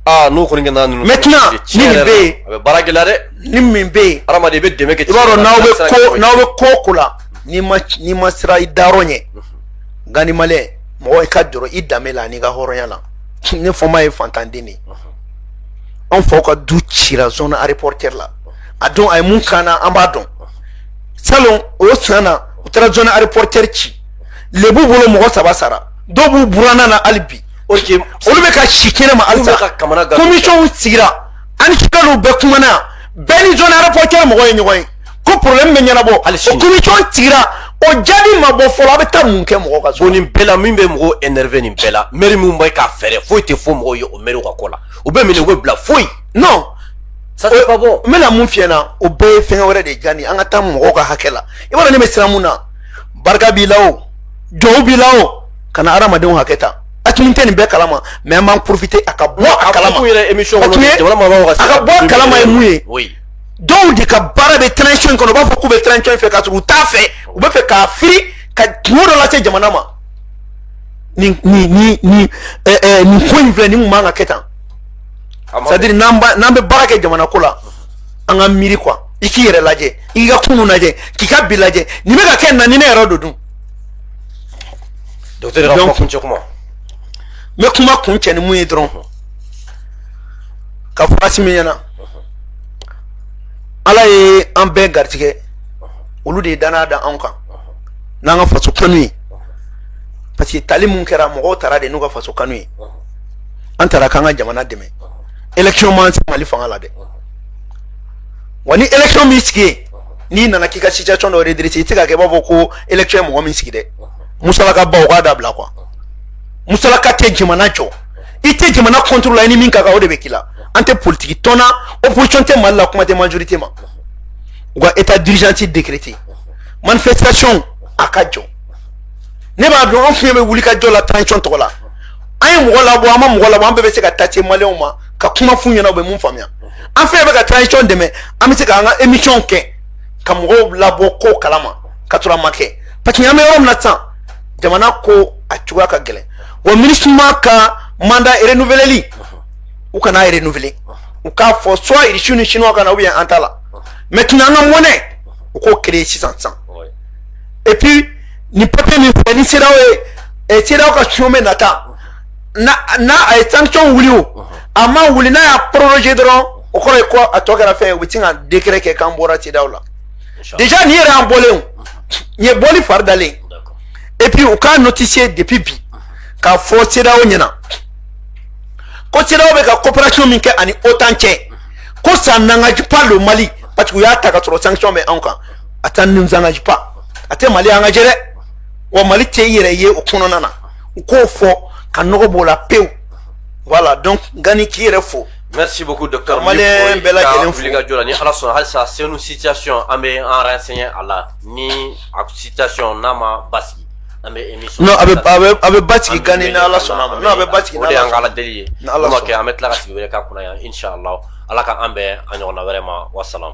Speaker 2: aa n'o kɔni
Speaker 1: kɛra ninnu. maintenant ni nin bɛ yen a
Speaker 2: bɛ baara gɛlɛya
Speaker 1: dɛ. ni min bɛ
Speaker 2: yen. hadamaden i bɛ dɛmɛ kɛ. i b'a
Speaker 1: dɔn n'aw bɛ
Speaker 2: ko n'aw bɛ ko o ko la n'i ma n'i ma siran i dayɔrɔ ɲɛ gandhi malien mɔgɔ i ka jɔrɔ i danbe la n'i ka hɔrɔnya la ne fomba ye faantanden de ye. an faw ka du cira zone aéroportière la a dɔn a ye mun k'an na an b'a dɔn salon o san na u taara zone aéroportière ci lebu bolo mɔgɔ saba sara dɔw b'u buranna na hali bi olu bɛ ka si kɛnɛ ma halisa commission sigira an ni sukalo bɛɛ kumana bɛɛ ni zone aéroportière mɔgɔ ye ɲɔgɔn ye ko problème bɛ ɲɛnabɔ o commission sigira o jaabi ma bɔ fɔlɔ a bɛ taa mun kɛ mɔgɔ ka so o nin bɛɛ la min bɛ
Speaker 1: mɔgɔw énervé nin bɛɛ la maire min bɛ ka feere foyi tɛ fɔ mɔgɔw ye o maire ka ko la u bɛ minɛ u bɛ bila foyi non
Speaker 2: ça c'est pas
Speaker 1: bon n bɛna mun f'i ɲɛna o
Speaker 2: bɛɛ ye fɛn wɛrɛ de diya nin an ka taa mɔgɔw ka hakɛ la i b'a dɔn ne bɛ siran mun na barika b'i la o jɔw b'i la o kana hadamadenw hakɛ ta asimi tɛ nin bɛɛ kalama mais an b'an profiter a ka bɔ a kalama a tun ye a ka bɔ a kalama ye mun ye dɔw de ka baara bɛ transition in kɔnɔ u b'a fɔ k'u bɛ transition in fɛ k'a sɔrɔ u t'a fɛ u bɛ fɛ k'a firi ka kunko dɔ lase jamana ma nin nin nin nin ɛɛ ɛɛ nin ko in filɛ nin kun man ka kɛ tan c'est à dire n'an ba n'an bɛ baara kɛ jamana ko la an ka miiri quoi i k'i yɛrɛ lajɛ i k'i ka kunun lajɛ k'i ka bi lajɛ nin bɛ ka kɛ na ni ne yɛrɛ don dun. docteur ka kuma
Speaker 1: kuncɛ
Speaker 2: kuma. n
Speaker 1: bɛ kuma
Speaker 2: kuncɛ ni min ye
Speaker 1: dɔrɔn.
Speaker 2: ka f'asimi ɲɛna ala ye an bɛɛ garijɛgɛ olu de ye danaya da anw kan n'an ka faso kanu ye parce que tali min kɛra mɔgɔw tara de n'u ka faso kanu ye an tara k'an ka jamana dɛmɛ election m'an se mali fanga la dɛ wa ni election m'i sigi yen n'i nana k'i ka situation dɔ redresser i tɛ ka kɛ i b'a fɔ ko election ye mɔgɔ min sigi dɛ musalaka baw k'a dabila quoi musalaka tɛ jamana jɔ i tɛ jamana contrôle la i ni min ka kan o de bɛ k'i la an tɛ politiki tɔn na opposition tɛ mali la kuma tɛ majorité ma u ka état d'urgence décrété manifestation a ka jɔ ne b'a dɔn an fɛnɛ bɛ wuli ka jɔ la transition tɔgɔ la an ye mɔgɔ labɔ an ma mɔgɔ labɔ an bɛɛ bɛ se ka taa se maliyɛnw ma ka kuma f'u ɲɛna u bɛ mun faamuya an fɛnɛ bɛ ka transition dɛmɛ an bɛ se k'an ka émission kɛ ka mɔgɔw labɔ ko kalama ka sɔrɔ a ma kɛ parce que an bɛ yɔrɔ min na sisan jamana ko a cogoya ka gɛlɛn wa MINUSMA ka mandat renouveleli u kana a renouveler u k'a fɔ soit irisiw ni chinois ka na ou bien an t'a la maintenant an ka monnaie u k'o créer sisan sisan et puis nin papier min filɛ ni CEDEAO ye eh, CEDEAO ka sommet nata na a ye sanction wuli o a ma wuli n'a y'a proroger dɔrɔn o kɔrɔ ye ko a tɔ kɛra fɛn ye u bɛ sin ka décret kɛ k'an bɔra CEDEAO la déjà nin yɛrɛ y'an bɔlen o nin ye bɔli fari dalen et puis u k'a notifier depuis bi k'a fɔ CEDEAO ɲɛna ko CEDEAO bɛ ka coopération min kɛ ani OTAN cɛ ko ça n'engage pas le Mali parce que u y'a ta ka sɔrɔ sanction bɛ anw kan a ça nous engage pas a tɛ Mali engager dɛ wa Mali tɛ i yɛrɛ ye o kɔnɔna na u k'o fɔ ka nɔgɔ b'o la pewu voilà donc Gani k'i yɛrɛ fo Merci beaucoup
Speaker 1: docteur Malien bɛɛ
Speaker 2: lajɛlen fo ka jɔ la ni Ala sɔnna
Speaker 1: halisa Senu situation an bɛ an renseigner a la ni a situation n'a ma basigi an bɛ émission non a bɛ a bɛ a
Speaker 2: bɛ basigi Gani ni Ala sɔnna ma non a bɛ basigi o de y'an ka Ala deli
Speaker 1: ye n'o ma kɛ an bɛ tila ka sigi wɛrɛ k'a kunna yan inchallah Ala ka an bɛn a ɲɔgɔnna wɛrɛ ma wa salam